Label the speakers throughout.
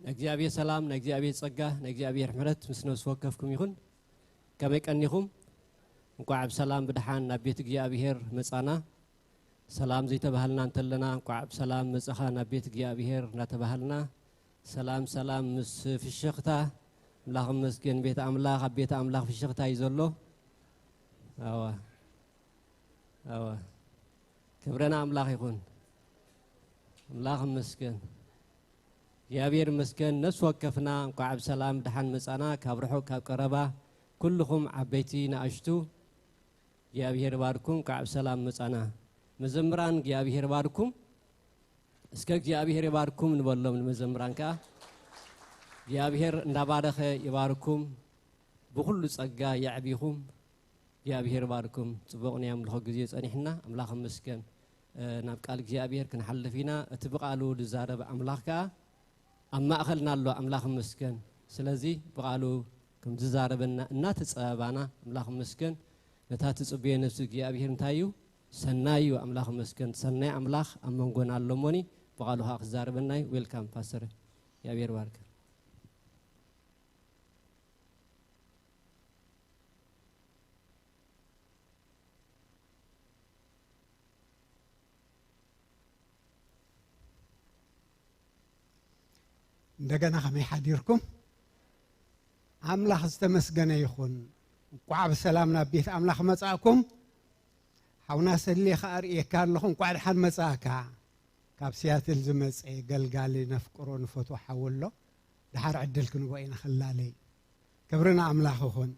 Speaker 1: ናይ እግዚኣብሔር ሰላም ናይ እግዚኣብሔር ጸጋ ናይ እግዚኣብሔር ምሕረት ምስ ነብሲ ወከፍኩም ይኹን ከመይ ቀኒኹም እንኳዕ ብሰላም ብድሓን ናብ ቤት እግዚኣብሔር መጻና ሰላም ዘይተባሃልና እንተለና እንኳዕ ብሰላም መፃኻ ናብ ቤት እግዚኣብሔር እናተባሃልና ሰላም ሰላም ምስ ፍሽኽታ ኣምላኽ መስገን ቤት ኣምላኽ ኣብ ቤት ኣምላኽ ፍሽኽታ እዩ ዘሎ ኣዋ ኣዋ ክብረና ኣምላኽ ይኹን ኣምላኽ መስገን እግዚኣብሔር መስገን ነፍሲ ወከፍና እንኳዕ ብሰላም ድሓን መፃና ካብ ርሑቕ ካብ ቀረባ ኩልኹም ዓበይቲ ንኣሽቱ እግዚኣብሔር ይባርኩም እንካዕ ብሰላም መፃና መዘምራን እግዚኣብሔር ይባርኩም እስከ እግዚኣብሔር ይባርኩም ንበሎም ንመዘምራን ከዓ እግዚኣብሔር እንዳባረኸ ይባርኩም ብኩሉ ፀጋ የዕቢኹም እግዚኣብሔር ይባርኩም ፅቡቅ ናይ ኣምልኾ ግዜ ፀኒሕና ኣምላኽ ይመስገን ናብ ቃል እግዚኣብሔር ክንሓልፍ ኢና እቲ ብቃሉ ዝዛረብ ኣምላኽ ከዓ ኣብ ማእኸልና ኣሎ ኣምላኽ ይመስገን ስለዚ ብቃሉ ከምዝዛረበና እናተፀባባና ኣምላኽ ይመስገን ነታ ትፅበዮ ነብሲ እግዚኣብሔር እንታይ እዩ ሰናይ እዩ ኣምላኽ ይመስገን ሰናይ ኣምላኽ ኣብ መንጎና ኣሎ እሞኒ ብቃሉ ከዓ ክዛረበና እዩ ዌልካም ፓስተር እግዚኣብሔር ባርከ
Speaker 2: እንደገና ከመይ ሓዲርኩም ኣምላኽ ዝተመስገነ ይኹን እንኳዕ ብሰላም ናብ ቤት ኣምላኽ መጻእኩም ሓውና ሰሌ ከዓ ርእየካ ኣለኹ እንኳዕ ድሓን መጻእካ ካብ ሲያትል ዝመፀ ገልጋሊ ነፍቅሮ ንፈቶ ሓው ኣሎ ድሓር ዕድል ክንቦ ኢና ክላለይ ክብሪ ንኣምላኽ ይኹን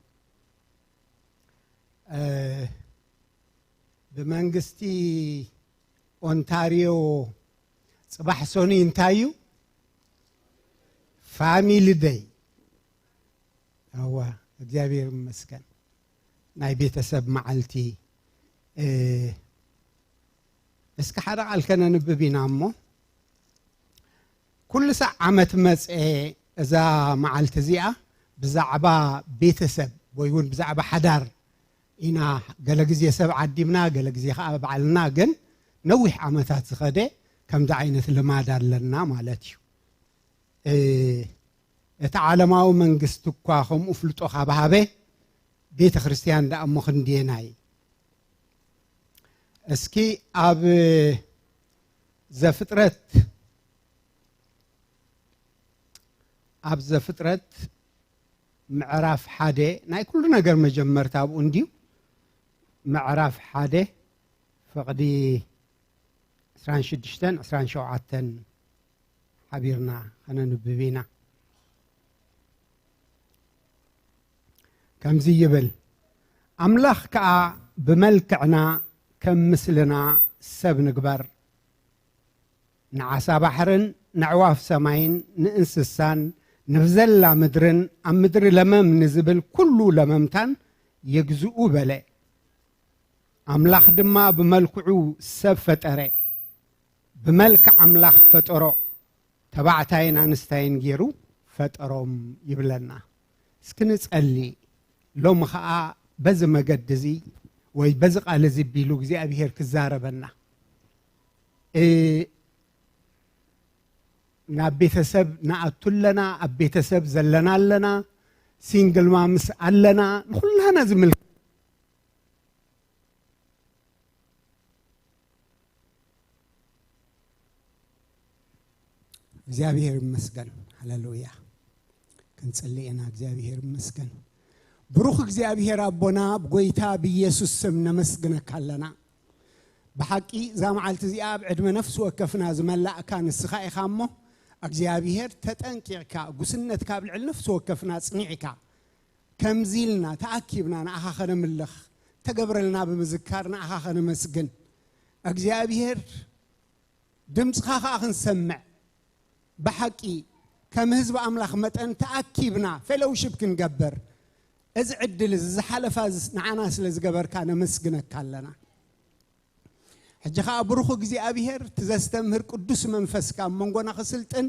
Speaker 2: ብመንግስቲ ኦንታርዮ ፅባሕ ሰኑይ እንታይ እዩ ፋሚሊ ደይ እዋ እግዚኣብሔር ይመስገን ናይ ቤተሰብ መዓልቲ እስኪ ሓደ ቃል ከነንብብ ኢና እሞ ኩሉ ሳዕ ዓመት መፀ እዛ መዓልቲ እዚኣ ብዛዕባ ቤተሰብ ወይ እውን ብዛዕባ ሓዳር ኢና ገለ ግዜ ሰብ ዓዲምና ገለ ግዜ ከኣ ባዕልና ግን ነዊሕ ዓመታት ዝኸደ ከምዚ ዓይነት ልማድ ኣለና ማለት እዩ እቲ ዓለማዊ መንግስቲ እኳ ከምኡ ፍልጦ ካብ ሃበ ቤተ ክርስቲያን ደኣ እሞ ክንድየናይ እስኪ ኣብ ዘፍጥረት ኣብ ዘፍጥረት ምዕራፍ ሓደ ናይ ኩሉ ነገር መጀመርታ ኣብኡ እንድዩ። ምዕራፍ ሓደ ፍቕዲ ዕስራን ሽዱሽተን ዕስራን ሸውዓተን ሓቢርና ከነንብብ ኢና። ከምዚ ይብል ኣምላኽ ከኣ ብመልክዕና ከም ምስልና ሰብ ንግበር ንዓሳ ባሕርን ነዕዋፍ ሰማይን ንእንስሳን ንብዘላ ምድርን ኣብ ምድሪ ለመም ንዝብል ኩሉ ለመምታን ይግዝኡ በለ። ኣምላኽ ድማ ብመልክዑ ሰብ ፈጠረ፣ ብመልክዕ ኣምላኽ ፈጠሮ፣ ተባዕታይን ኣንስታይን ገይሩ ፈጠሮም ይብለና። እስኪ ንጸሊ ሎሚ ኸኣ በዚ መገዲ እዚ ወይ በዚ ቃል እዚ ቢሉ እግዚኣብሄር ክዛረበና ናብ ቤተሰብ ንኣቱ ኣለና ኣብ ቤተሰብ ዘለና ኣለና ሲንግል ማምስ ኣለና ንኩላና ዝምል እግዚኣብሔር ይመስገን ሃሌሉያ ክንጽሊ ኢና እግዚኣብሔር ይመስገን ብሩኽ እግዚኣብሔር ኣቦና ብጎይታ ብኢየሱስ ስም ነመስግነካ ኣለና ብሓቂ እዛ መዓልቲ እዚኣ ኣብ ዕድመ ነፍሲ ወከፍና ዝመላእካ ንስኻ ኢኻ እሞ እግዚኣብሄር ተጠንቂቕካ ጉስነት ካብ ልዕሊ ነፍሲ ወከፍና ጽኒዕካ ከምዚ ኢልና ተኣኪብና ንኣኻ ከነምልኽ ተገብረልና ብምዝካር ንኣኻ ከነመስግን እግዚኣብሄር ድምፅኻ ከዓ ክንሰምዕ ብሓቂ ከም ህዝቢ ኣምላኽ መጠን ተኣኪብና ፌሎውሽፕ ክንገብር እዚ ዕድል እዚ ዝሓለፋ እዚ ንዓና ስለ ዝገበርካ ነመስግነካ ኣለና ሕጂ ከኣ ብሩኹ እግዚኣብሄር እቲ ዘስተምህር ቅዱስ መንፈስካ ኣብ መንጎና ክስልጥን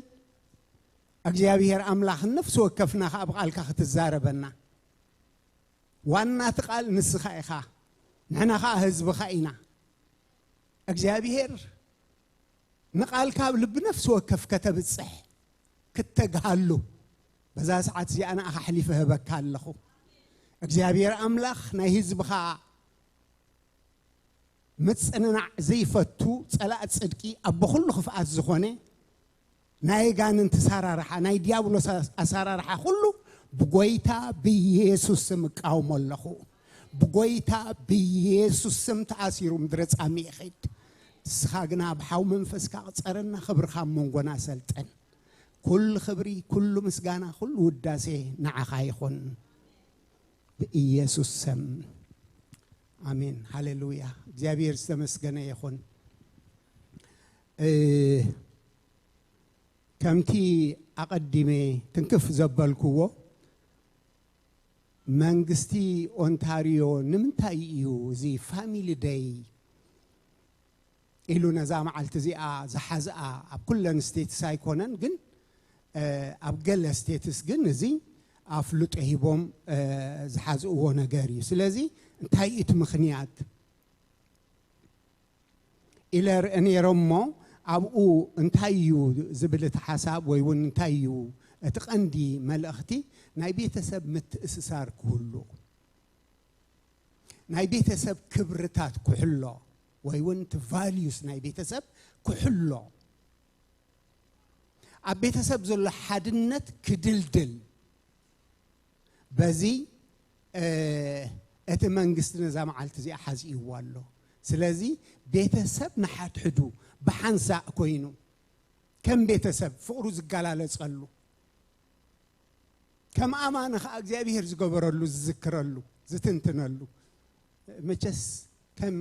Speaker 2: እግዚኣብሄር ኣምላኽ ነፍሲ ወከፍና ከኣ ብቓልካ ክትዛረበና ዋና እቲ ቃል ንስኻ ኢኻ ንሕና ከኣ ህዝብኻ ኢና እግዚኣብሄር ንቓልካ ኣብ ልቢ ነፍሲ ወከፍ ከተብጽሕ ክተግሃሉ በዛ ሰዓት እዚኣ ንኣኻ ኣሕሊፈ እህበካ ኣለኹ። እግዚኣብሔር ኣምላኽ ናይ ህዝብኻ ምጽንናዕ ዘይፈቱ ጸላእ ጽድቂ ኣቦ ኩሉ ክፍኣት ዝኾነ ናይ ኣጋንንቲ ኣሰራርሓ ናይ ዲያብሎስ ኣሰራርሓ ኩሉ ብጎይታ ብኢየሱስ ስም እቃወሞ ኣለኹ። ብጎይታ ብየሱስ ስም ተኣሲሩ ምድረ ጻሚ ይኺድ ንስኻ ግና ብሓው መንፈስካ ቅጸረና ክብርኻ ኣብ መንጎና ሰልጥን ኩሉ ክብሪ ኩሉ ምስጋና ኩሉ ውዳሴ ንዓኻ ይኹን ብኢየሱስ ስም አሜን ሃሌሉያ እግዚአብሔር ዝተመስገነ ይኹን ከምቲ ኣቐዲመ ትንክፍ ዘበልክዎ መንግስቲ ኦንታርዮ ንምንታይ እዩ እዚ ፋሚሊ ደይ ኢሉ ነዛ መዓልቲ እዚኣ ዝሓዝኣ? ኣብ ኩለን ስቴትስ ኣይኮነን ግን ኣብ ገለ ስቴትስ ግን እዚ ኣፍልጦ ሂቦም ዝሓዝእዎ ነገር እዩ። ስለዚ እንታይ እዩ እቲ ምኽንያት? ኢለ እርእ ነይረ እሞ ኣብኡ እንታይ እዩ ዝብል እቲ ሓሳብ ወይ እውን እንታይ እዩ እቲ ቀንዲ መልእኽቲ ናይ ቤተሰብ ምትእስሳር ክህሉ ናይ ቤተሰብ ክብርታት ክሕሎ ወይ እውን እቲ ቫልዩስ ናይ ቤተሰብ ክሕሎ ኣብ ቤተሰብ ዘሎ ሓድነት ክድልድል በዚ እቲ መንግስቲ ነዛ መዓልቲ እዚኣ ሓዚእዋ ኣሎ። ስለዚ ቤተሰብ ንሓድሕዱ ብሓንሳእ ኮይኑ ከም ቤተሰብ ፍቕሩ ዝገላለጸሉ ከም ኣማኒ ከዓ እግዚኣብሔር ዝገበረሉ ዝዝክረሉ ዝትንትነሉ መቸስ ከም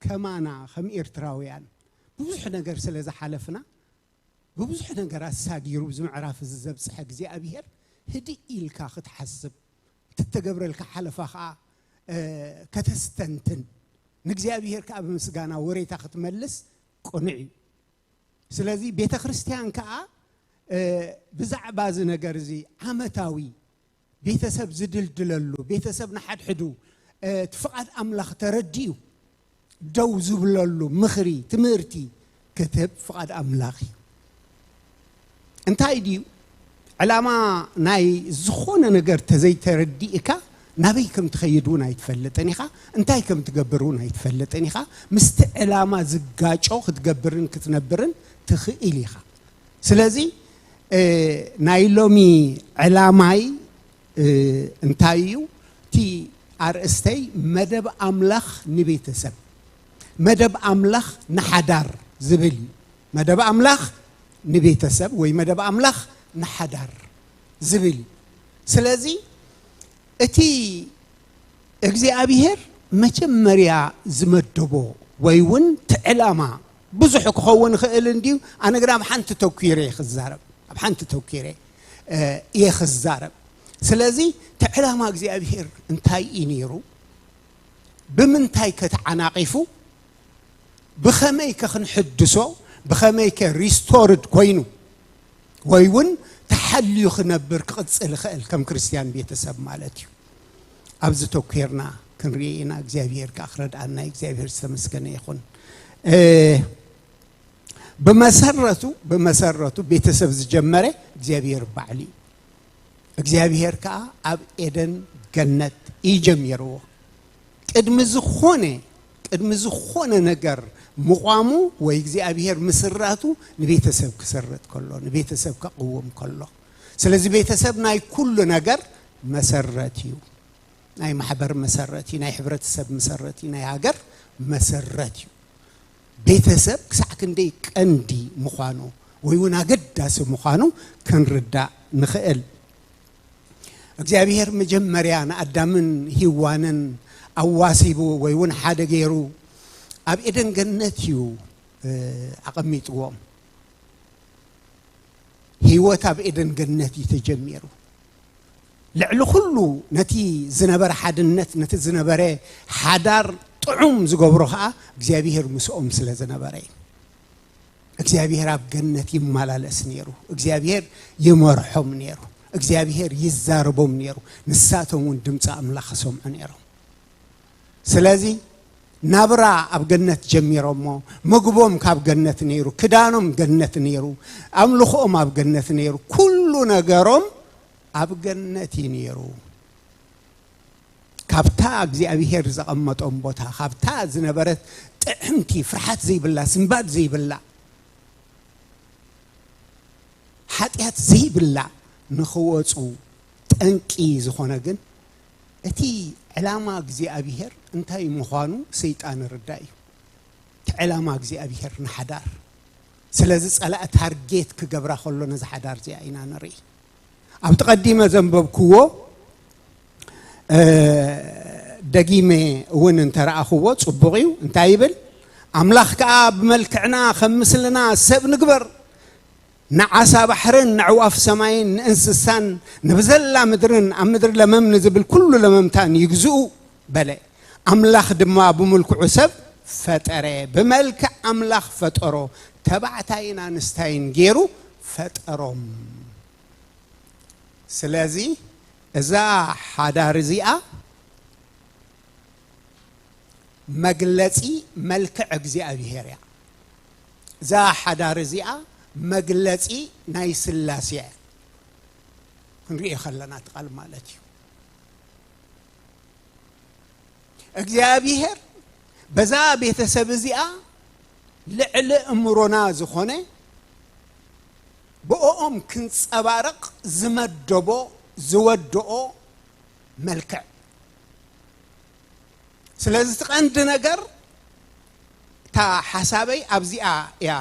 Speaker 2: ከማና ከም ኤርትራውያን ብዙሕ ነገር ስለ ዝሓለፍና ብብዙሕ ነገራት ሳጊሩ እዚ ምዕራፍ እዚ ዘብጽሐ እግዚኣብሄር ህድእ ኢልካ ክትሓስብ እትተገብረልካ ሓለፋ ከዓ ከተስተንትን ንእግዚኣብሄር ከዓ ብምስጋና ወሬታ ክትመልስ ቅኑዕ እዩ ስለዚ ቤተ ክርስቲያን ከዓ ብዛዕባ እዚ ነገር እዚ ዓመታዊ ቤተሰብ ዝድልድለሉ፣ ቤተሰብ ንሓድሕዱ እቲ ፍቓድ ኣምላኽ ተረዲኡ ደው ዝብለሉ ምኽሪ፣ ትምህርቲ ክትህብ ፍቓድ ኣምላኽ እዩ። እንታይ ድዩ ዕላማ ናይ ዝኾነ ነገር ተዘይተረዲእካ ናበይ ከም ትኸይድ እውን ኣይትፈልጥን ኢኻ፣ እንታይ ከም ትገብር እውን ኣይትፈልጥን ኢኻ፣ ምስቲ ዕላማ ዝጋጮ ክትገብርን ክትነብርን ትኽእል ኢኻ። ስለዚ ናይ ሎሚ ዕላማይ እንታይ እዩ? እቲ ኣርእስተይ መደብ ኣምላኽ ንቤተሰብ፣ መደብ ኣምላኽ ንሓዳር ዝብል እዩ። መደብ ኣምላኽ ንቤተሰብ ወይ መደብ ኣምላኽ ንሓዳር ዝብል እዩ። ስለዚ እቲ እግዚኣብሔር መጀመርያ ዝመደቦ ወይ እውን እቲ ዕላማ ብዙሕ ክኸውን ይኽእል እንድዩ፣ ኣነ ግና ኣብ ሓንቲ ተኲረ እየ ክዛረብ፣ ኣብ ሓንቲ ተኲረ እየ ክዛረብ። ስለዚ እቲ ዕላማ እግዚኣብሄር እንታይ እዩ ነይሩ? ብምንታይ ከ ተዓናቒፉ? ብኸመይ ከ ክንሕድሶ? ብኸመይ ከ ሪስቶርድ ኮይኑ ወይ እውን ተሓልዩ ክነብር ክቕፅል ይኽእል ከም ክርስትያን ቤተሰብ ማለት እዩ። ኣብዚ ተኩርና ክንሪኢ ኢና እግዚኣብሄር ከኣ ክረድኣና እዩ እግዚኣብሄር ዝተመስገነ ይኹን ብመሰረቱ ብመሰረቱ ቤተሰብ ዝጀመረ እግዚኣብሄር ባዕሉ እዩ እግዚኣብሄር ከኣ ኣብ ኤደን ገነት እዩ ጀሚርዎ ቅድሚ ዝኾነ ቅድሚ ዝኾነ ነገር ምቋሙ ወይ እግዚኣብሄር ምስራቱ ንቤተሰብ ክስርት ከሎ ንቤተሰብ ከቕውም ከሎ ስለዚ ቤተሰብ ናይ ኩሉ ነገር መሰረት እዩ። ናይ ማሕበር መሰረት እዩ። ናይ ሕብረተሰብ መሰረት እዩ። ናይ ሃገር መሰረት እዩ። ቤተሰብ ክሳዕ ክንደይ ቀንዲ ምዃኑ ወይ እውን ኣገዳሲ ምዃኑ ክንርዳእ ንኽእል። እግዚኣብሔር መጀመርያ ንኣዳምን ሂዋንን ኣዋሲቡ ወይ እውን ሓደ ገይሩ ኣብ ኤደን ገነት እዩ ኣቐሚጥዎም። ህይወት ኣብ ኤደን ገነት እዩ ተጀሚሩ። ልዕሊ ኩሉ ነቲ ዝነበረ ሓድነት ነቲ ዝነበረ ሓዳር ጥዑም ዝገብሮ ከዓ እግዚኣብሄር ምስኦም ስለ ዝነበረ እዩ። እግዚኣብሄር ኣብ ገነት ይመላለስ ነይሩ። እግዚኣብሄር ይመርሖም ነይሩ። እግዚኣብሄር ይዛረቦም ነይሩ። ንሳቶም እውን ድምፂ ኣምላኽ ይሰምዑ ነይሮም። ስለዚ ናብራ ኣብ ገነት ጀሚሮሞ ምግቦም ካብ ገነት ነይሩ ክዳኖም ገነት ነይሩ ኣምልኾኦም ኣብ ገነት ነይሩ ኩሉ ነገሮም ኣብ ገነት እዩ ነይሩ ካብታ እግዚኣብሄር ዘቐመጦም ቦታ ካብታ ዝነበረት ጥዕምቲ ፍርሓት ዘይብላ ስንባድ ዘይብላ ሓጢኣት ዘይብላ ንኽወፁ ጠንቂ ዝኾነ ግን እቲ ዕላማ እግዚኣብሄር እንታይ ምዃኑ ሰይጣን ርዳእ እዩ። እቲ ዕላማ እግዚኣብሄር ንሓዳር ስለዚ ጸላእ ታርጌት ክገብራ ከሎ ነዚ ሓዳር እዚኣ ኢና ንርኢ። ኣብቲ ቀዲመ ዘንበብክዎ ደጊመ እውን እንተረኣኽዎ ጽቡቕ እዩ እንታይ ይብል ኣምላኽ ከዓ ብመልክዕና ከም ምስልና ሰብ ንግበር ንዓሳ ባሕርን ነዕዋፍ ሰማይን ንእንስሳን ንብዘላ ምድርን ኣብ ምድሪ ለመም ንዝብል ኵሉ ለመምታን ይግዝኡ በለ። ኣምላኽ ድማ ብምልክዑ ሰብ ፈጠረ፣ ብመልክዕ ኣምላኽ ፈጠሮ፣ ተባዕታይን ኣንስታይን ገይሩ ፈጠሮም። ስለዚ እዛ ሓዳር እዚኣ መግለጺ መልክዕ እግዚኣብሄር እያ። እዛ ሓዳር እዚኣ መግለጺ ናይ ስላሴ እያ ክንሪኦ ከለና እቲ ቃል ማለት እዩ እግዚኣብሄር በዛ ቤተሰብ እዚኣ ልዕሊ እምሮና ዝኾነ ብኦኦም ክንጸባረቕ ዝመደቦ ዝወድኦ መልክዕ ስለዚ እቲ ቀንዲ ነገር እታ ሓሳበይ ኣብዚኣ እያ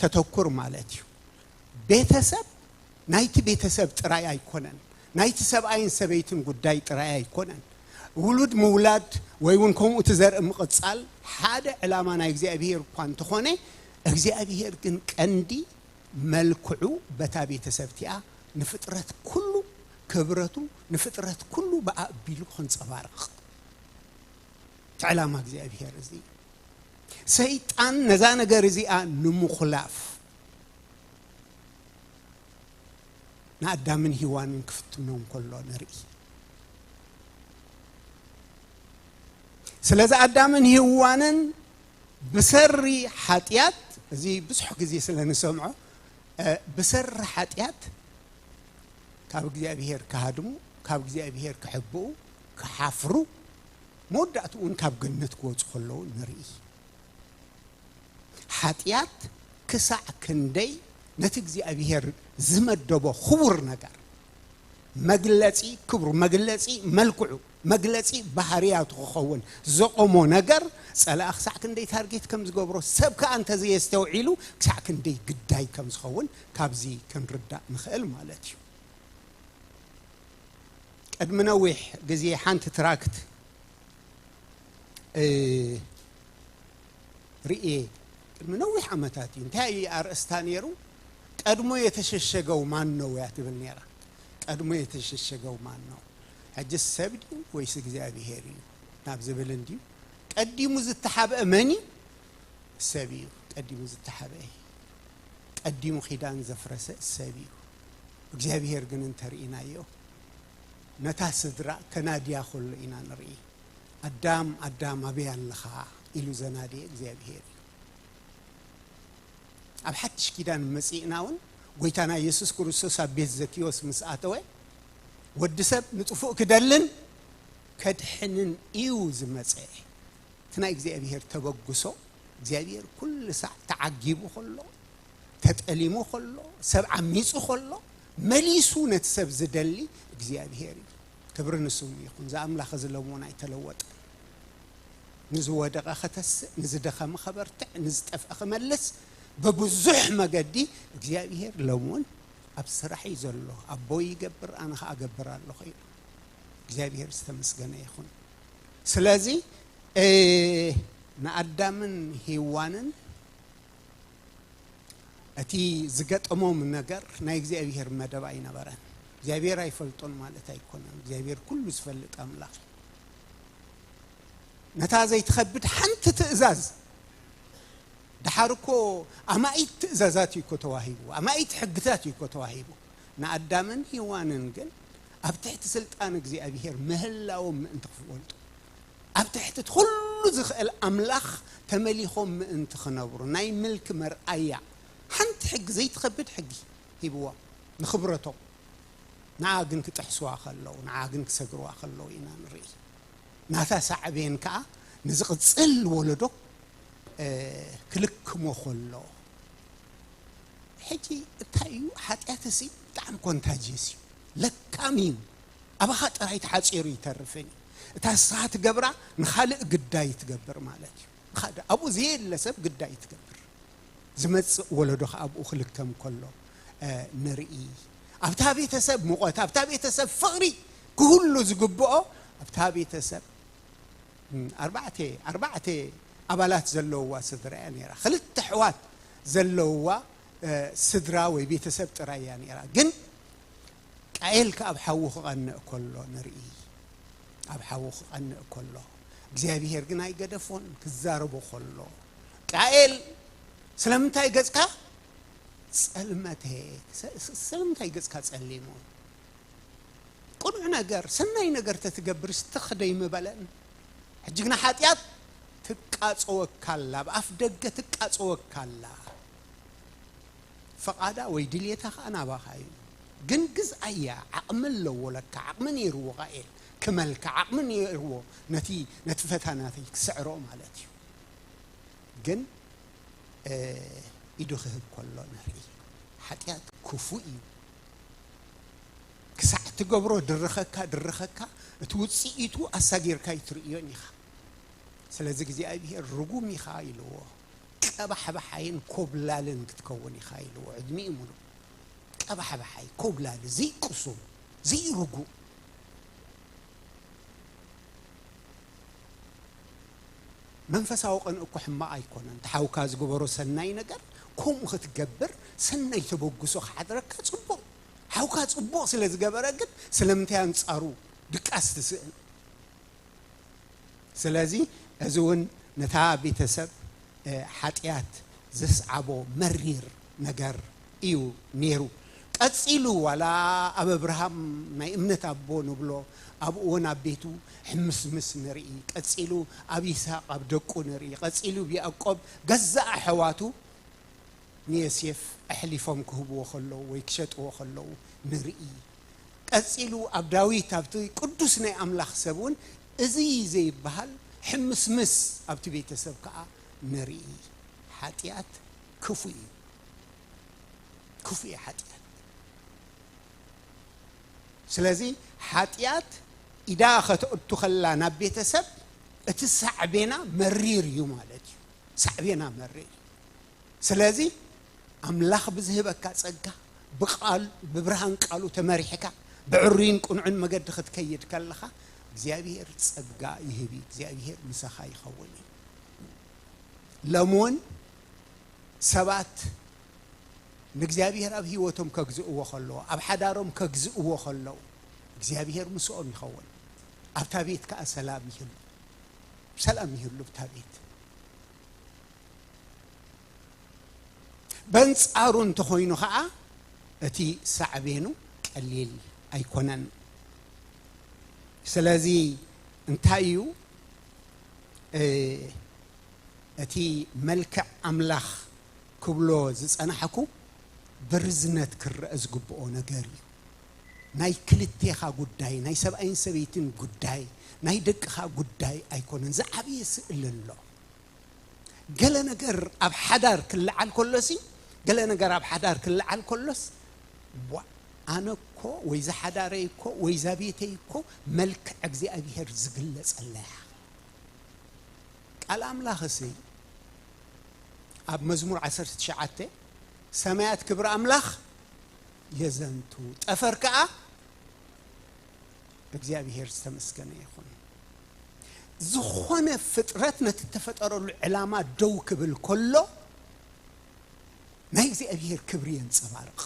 Speaker 2: ተተኩር ማለት እዩ ቤተሰብ ናይቲ ቤተሰብ ጥራይ ኣይኮነን ናይቲ ሰብኣይን ሰበይትን ጉዳይ ጥራይ ኣይኮነን ውሉድ ምውላድ ወይ እውን ከምኡ እቲ ዘርኢ ምቕጻል ሓደ ዕላማ ናይ እግዚኣብሄር እኳ እንተኾነ እግዚኣብሄር ግን ቀንዲ መልክዑ በታ ቤተሰብ እቲኣ ንፍጥረት ኩሉ ክብረቱ ንፍጥረት ኩሉ ብኣቢሉ ክንጸባረቕ እቲ ዕላማ እግዚኣብሄር እዚ እዩ። ሰይጣን ነዛ ነገር እዚኣ ንምኹላፍ ንኣዳምን ሂዋንን ክፍትኖም ከሎ ንርኢ። ስለዚ ኣዳምን ሂዋንን ብሰሪ ሓጢኣት እዚ ብዙሕ ግዜ ስለ ንሰምዖ ብሰሪ ሓጢኣት ካብ እግዚኣብሄር ክሃድሙ፣ ካብ እግዚኣብሄር ክሕብኡ፣ ክሓፍሩ፣ መወዳእትኡውን ካብ ገነት ክወጹ ከለዉ ንርኢ። ሓጢኣት ክሳዕ ክንደይ ነቲ እግዚኣብሄር ዝመደቦ ክቡር ነገር፣ መግለጺ ክብሩ፣ መግለጺ መልክዑ፣ መግለጺ ባህርያቱ ክኸውን ዘቖሞ ነገር፣ ጸላኢ ክሳዕ ክንደይ ታርጌት ከም ዝገብሮ፣ ሰብ ከኣ እንተዘየስተውዒሉ ክሳዕ ክንደይ ግዳይ ከም ዝኸውን ካብዚ ክንርዳእ ንኽእል ማለት እዩ። ቅድሚ ነዊሕ ግዜ ሓንቲ ትራክት ርእየ፣ ቅድሚ ነዊሕ ዓመታት እዩ። እንታይ እዩ ኣርእስታ ነይሩ? ቀድሞ የተሸሸገው ማን ነው እያ ትብል ነይራ። ቀድሞ የተሸሸገው ማን ነው። ሕጅስ ሰብ ድዩ ወይስ እግዚኣብሄር እዩ ናብ ዝብል እንድዩ ቀዲሙ ዝተሓብአ መን እዩ ሰብ እዩ ቀዲሙ ዝተሓብአ ቀዲሙ ኪዳን ዘፍረሰ ሰብ እዩ እግዚኣብሄር ግን እንተርኢናዮ ነታ ስድራ ከናድያ ከሎ ኢና ንርኢ ኣዳም ኣዳም ኣበይ ኣለኻ ኢሉ ዘናድየ እግዚኣብሄር እዩ ኣብ ሓድሽ ኪዳን መጺእና እውን ጎይታና የሱስ ክርስቶስ ኣብ ቤት ዘኪዎስ ምስ ኣተወ ወዲ ሰብ ንጥፉእ ክደልን ከድሕንን እዩ ዝመፀ እቲ ናይ እግዚኣብሄር ተበግሶ እግዚኣብሄር ኩሉ ሳዕ ተዓጊቡ ከሎ ተጠሊሙ ከሎ ሰብ ዓሚፁ ከሎ መሊሱ ነቲ ሰብ ዝደሊ እግዚኣብሄር እዩ ክብሪ ንስሙ ይኹን ዝኣምላኽ እዚ ለሞን ኣይተለወጠ ንዝወደቐ ከተስእ ንዝደኸመ ከበርትዕ ንዝጠፍአ ክመልስ በብዙሕ መገዲ እግዚኣብሄር ለሞን ኣብ ስራሕ እዩ ዘሎ ኣቦይ ይገብር ኣነ ከዓ እገብር ኣለኹ ኢሉ እግዚኣብሔር ዝተመስገነ ይኹን ስለዚ ንኣዳምን ሂዋንን እቲ ዝገጠሞም ነገር ናይ እግዚኣብሔር መደብ ኣይነበረን እግዚኣብሔር ኣይፈልጦን ማለት ኣይኮነን እግዚኣብሔር ኩሉ ዝፈልጥ ኣምላኽ እዩ ነታ ዘይትኸብድ ሓንቲ ትእዛዝ ደሓር እኮ ኣማኢት ትእዛዛት እዩ እኮ ተዋሂቡ፣ ኣማኢት ሕግታት እዩ እኮ ተዋሂቡ። ንኣዳምን ሄዋንን ግን ኣብ ትሕቲ ስልጣን እግዚኣብሄር ምህላዎም ምእንቲ ክፈልጡ፣ ኣብ ትሕቲ እቲ ኹሉ ዝኽእል ኣምላኽ ተመሊኾም ምእንቲ ክነብሩ ናይ ምልኪ መርኣያ ሓንቲ ሕጊ ዘይትኸብድ ሕጊ ሂብዎም ንኽብረቶም። ንዓ ግን ክጥሕስዋ ከለዉ ንዓ ግን ክሰግርዋ ከለዉ ኢና ንርኢ። ናታ ሳዕቤን ከኣ ንዝቕጽል ወለዶ ክልክሞ ከሎ ሕጂ እንታይ እዩ ሓጢኣትሲ ብጣዕሚ ኮንታጅየስ እዩ ለካም እዩ ኣባኻ ጥራይ ተሓፂሩ ይተርፍን እዩ እታ ንስኻ ትገብራ ንኻልእ ግዳይ ትገብር ማለት እዩ ንኻልእ ኣብኡ ዘየለ ሰብ ግዳይ ትገብር ዝመፅእ ወለዶ ከዓ ኣብኡ ክልከም ከሎ ንርኢ ኣብታ ቤተሰብ ሙቐት ኣብታ ቤተሰብ ፍቕሪ ክህሉ ዝግብኦ ኣብታ ቤተሰብ ኣርባዕተ ኣርባዕተ ኣባላት ዘለዉዋ ስድራ እያ ነይራ። ክልተ ኣሕዋት ዘለዉዋ ስድራ ወይ ቤተሰብ ጥራይ እያ ነይራ። ግን ቃየል ከኣብ ሓዉ ክቐንእ ከሎ ንርኢ። ኣብ ሓዉ ክቐንእ ከሎ እግዚኣብሄር ግን ኣይገደፎን ክዛረቦ ከሎ ቃየል ስለምንታይ ገጽካ ጸልመተ ስለምንታይ ገጽካ ጸሊሙ ቅኑዕ ነገር ሰናይ ነገር ተትገብርስ ትኽ ደይምበለን ሕጂ ግና ሓጢኣት ትቃጸወካ ኣላ ኣብ ኣፍ ደገ ትቃጸወካ ኣላ ፍቓዳ ወይ ድልየታ ከኣ ናባኻ እዩ ግን ግዝኣያ ዓቕሚ ኣለዎ ለካ ዓቕሚ ነይርዎ ቃኤል ክመልካ ዓቕሚ ነይርዎ ነቲ ነቲ ፈታናቲ ክስዕሮ ማለት እዩ ግን ኢዱ ክህብ ከሎ ንርኢ ሓጢኣት ክፉእ እዩ ክሳዕ እትገብሮ ድርኸካ ድርኸካ እቲ ውጽኢቱ ኣሳጊርካ ኣይትርእዮን ኢኻ። ስለዚ እግዚኣብሄር ርጉም ኢኻ ኢልዎ። ቀባሕባሓይን ኮብላልን ክትከውን ኢኻ ኢልዎ ዕድሚኡ ምሉእ። ቀባሕባሓይ፣ ኮብላሊ፣ ዘይቅሱን፣ ዘይርጉም። መንፈሳዊ ቅንኢ እኮ ሕማቅ ኣይኮነን እቲ ሓውካ ዝገበሮ ሰናይ ነገር ከምኡ ክትገብር ሰናይ ተበግሶ ክሓድረካ ጽቡቅ ሓውካ ጽቡቅ ስለ ዝገበረ ግን ስለምንታይ ኣንጻሩ ድቃስ ትስእን ስለዚ እዚ እውን ነታ ቤተሰብ ሓጢኣት ዘስዓቦ መሪር ነገር እዩ ኔሩ ቀጺሉ ዋላ ኣብ ኣብርሃም ናይ እምነት ኣቦ ንብሎ ኣብኡ ወን ኣብ ቤቱ ሕምስምስ ንርኢ ቀጺሉ ኣብ ይስሃቅ ኣብ ደቁ ንርኢ ቀጺሉ ብ ያእቆብ ገዛእ ኣሐዋቱ ንየሴፍ ኣሕሊፎም ክህብዎ ከለዉ ወይ ክሸጥዎ ከለዉ ንርኢ ቀጺሉ ኣብ ዳዊት ኣብቲ ቅዱስ ናይ ኣምላኽ ሰብ ውን እዚ ዘይብሃል ሕምስምስ ኣብቲ ቤተሰብ ከኣ ንርኢ ሓጥያት ክፉእ እዩ። ክፉእ እዩ ሓጢኣት ስለዚ ሓጢኣት ኢዳ ከተእቱ ከላ ናብ ቤተሰብ እቲ ሳዕቤና መሪር እዩ ማለት እዩ ሳዕቤና መሪር ስለዚ ኣምላኽ ብዝህበካ ጸጋ ብቃል ብብርሃን ቃሉ ተመሪሕካ ብዕሩይን ቅኑዕን መገዲ ክትከይድ ከለኻ እግዚኣብሄር ጸጋ ይህብ እዩ እግዚኣብሄር ምሳኻ ይኸውን እዩ ሎም እውን ሰባት ንእግዚኣብሄር ኣብ ህይወቶም ከግዝእዎ ከለዉ፣ ኣብ ሓዳሮም ከግዝእዎ ከለዉ፣ እግዚኣብሄር ምስኦም ይኸውን። ኣብታ ቤት ከኣ ሰላም ይህሉ። ሰላም ይህሉ ኣብታ ቤት። በንጻሩ እንተኾይኑ ከኣ እቲ ሳዕቤኑ ቀሊል ኣይኮነን። ስለዚ እንታይ እዩ እቲ መልክዕ ኣምላኽ ክብሎ ዝጸናሕኩ ብርዝነት ክረኣ ዝግብኦ ነገር እዩ። ናይ ክልቴኻ ጉዳይ፣ ናይ ሰብኣይን ሰበይትን ጉዳይ፣ ናይ ደቅኻ ጉዳይ ኣይኮነን፣ ዝዓበየ ስእሊ ኣሎ። ገለ ነገር ኣብ ሓዳር ክለዓል ከሎሲ ገለ ነገር ኣብ ሓዳር ክለዓል ከሎስ ዋእ ኣነ እኮ ወይ እዛ ሓዳረይ እኮ ወይ እዛ ቤተይ እኮ መልክዕ እግዚኣብሄር ዝግለጸላ እያ። ቃል ኣምላኽ እሲ ኣብ መዝሙር ዓሰርተ ትሽዓተ ሰማያት ክብሪ ኣምላኽ የዘንቱ ጠፈር ከዓ እግዚኣብሔር ዝተመስገነ ይኹን ዝኾነ ፍጥረት ነቲ እተፈጠረሉ ዕላማ ደው ክብል ከሎ ናይ እግዚኣብሔር ክብሪ የንፀባርቕ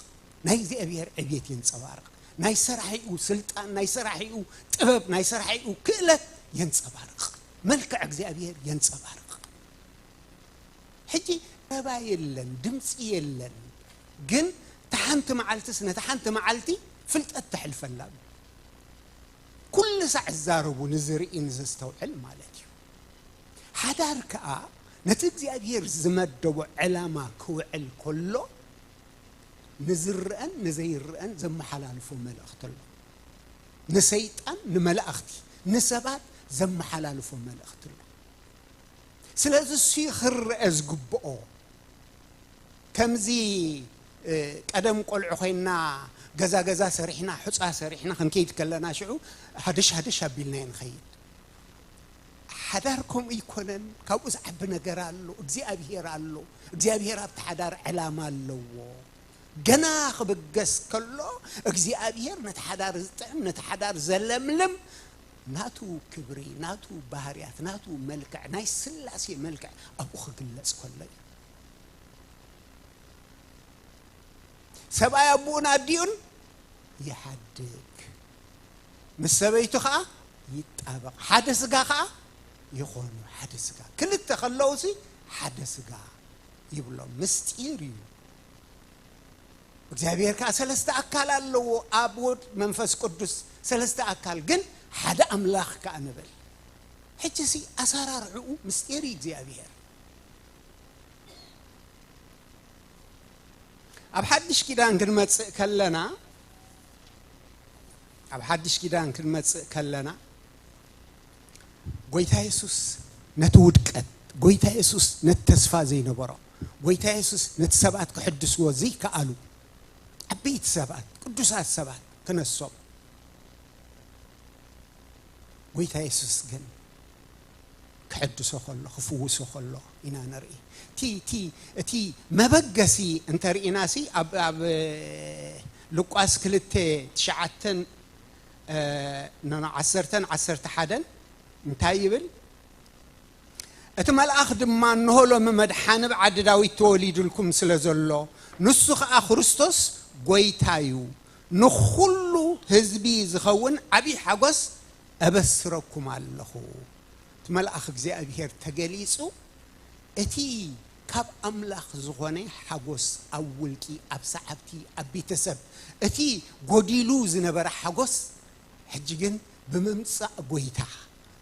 Speaker 2: ናይ እግዚኣብሔር ዕብየት የንፀባርቕ ናይ ሰራሒኡ ስልጣን ናይ ሰራሒኡ ጥበብ ናይ ሰራሒኡ ክእለት የንፀባርቕ መልክዕ እግዚኣብሔር የንጸባርቅ። ሕጂ ረባ የለን ድምጺ የለን ግን እታ ሓንቲ መዓልትስ ነታ ሓንቲ መዓልቲ ፍልጠት ተሕልፈላ ኣሎ። ኩሉ ሳዕ ዝዛረቡ ንዝርኢ ንዘስተውዕል ማለት እዩ። ሓዳር ከኣ ነቲ እግዚኣብሔር ዝመደቦ ዕላማ ክውዕል ከሎ ንዝረኣን ንዘይረኣን ዘመሓላልፎ መልእኽቲ ኣሎ። ንሰይጣን ንመላእኽቲ ንሰባት ዘመሓላልፎ መልእኽቲ ኣሎ ስለዚ እሱ ክረአ ዝግብኦ ከምዚ ቀደም ቆልዑ ኮይንና ገዛ ገዛ ሰሪሕና ሑፃ ሰሪሕና ክንከይድ ከለና ሽዑ ሃደሽ ሃደሽ ኣቢልናዮ ንኸይድ ሓዳር ከምኡ ኣይኮነን ካብኡ ዝዓቢ ነገር ኣሎ እግዚኣብሄር ኣሎ እግዚኣብሄር ኣብቲ ሓዳር ዕላማ ኣለዎ ገና ክብገስ ከሎ እግዚኣብሄር ነቲ ሓዳር ዝጥዕም ነቲ ሓዳር ዘለምልም ናቱ ክብሪ ናቱ ባህርያት ናቱ መልክዕ ናይ ስላሴ መልክዕ ኣብኡ ክግለጽ ከሎ እዩ ሰብኣይ ኣቦኡን ኣዲኡን ይሓድግ ምስ ሰበይቱ ከዓ ይጣበቕ ሓደ ስጋ ከዓ ይኾኑ ሓደ ስጋ ክልተ ከለውሲ ሓደ ስጋ ይብሎም ምስጢር እዩ እግዚኣብሔር ከዓ ሰለስተ ኣካል ኣለዎ ኣብ ወድ መንፈስ ቅዱስ ሰለስተ ኣካል ግን ሓደ ኣምላኽ ከዓ ንብል ሕጂ ሲ ኣሰራርዕኡ ምስጢር እዩ እግዚኣብሔር ኣብ ሓድሽ ኪዳን ክንመጽእ ከለና ኣብ ሓድሽ ኪዳን ክንመጽእ ከለና ጎይታ የሱስ ነቲ ውድቀት፣ ጎይታ የሱስ ነቲ ተስፋ ዘይነበሮ፣ ጎይታ የሱስ ነቲ ሰባት ክሕድስዎ ዘይከኣሉ ዓበይቲ ሰባት፣ ቅዱሳት ሰባት ክነሶም፣ ጎይታ የሱስ ግን ክሕድሶ ከሎ ክፍውሶ ከሎ ኢና ንርኢ። እቲ እቲ እቲ መበገሲ እንተርኢናሲ ኣብ ኣብ ሉቃስ ክልተ ትሽዓተን ን ዓሰርተን ዓሰርተ ሓደን እንታይ ይብል? እቲ መልኣኽ ድማ እንሆ ሎሚ መድሓኒ ኣብ ዓዲ ዳዊት ተወሊዱልኩም ስለ ዘሎ ንሱ ኸኣ ክርስቶስ ጐይታ እዩ ንዅሉ ህዝቢ ዝኸውን ዓብዪ ሓጐስ እበስረኩም ኣለኹ እቲ መልኣኽ እግዚኣብሄር ተገሊጹ እቲ ካብ ኣምላኽ ዝኾነ ሓጎስ ኣብ ውልቂ፣ ኣብ ሰዓብቲ፣ ኣብ ቤተሰብ፣ እቲ ጎዲሉ ዝነበረ ሓጎስ ሕጂ ግን ብምምጻእ ጎይታ፣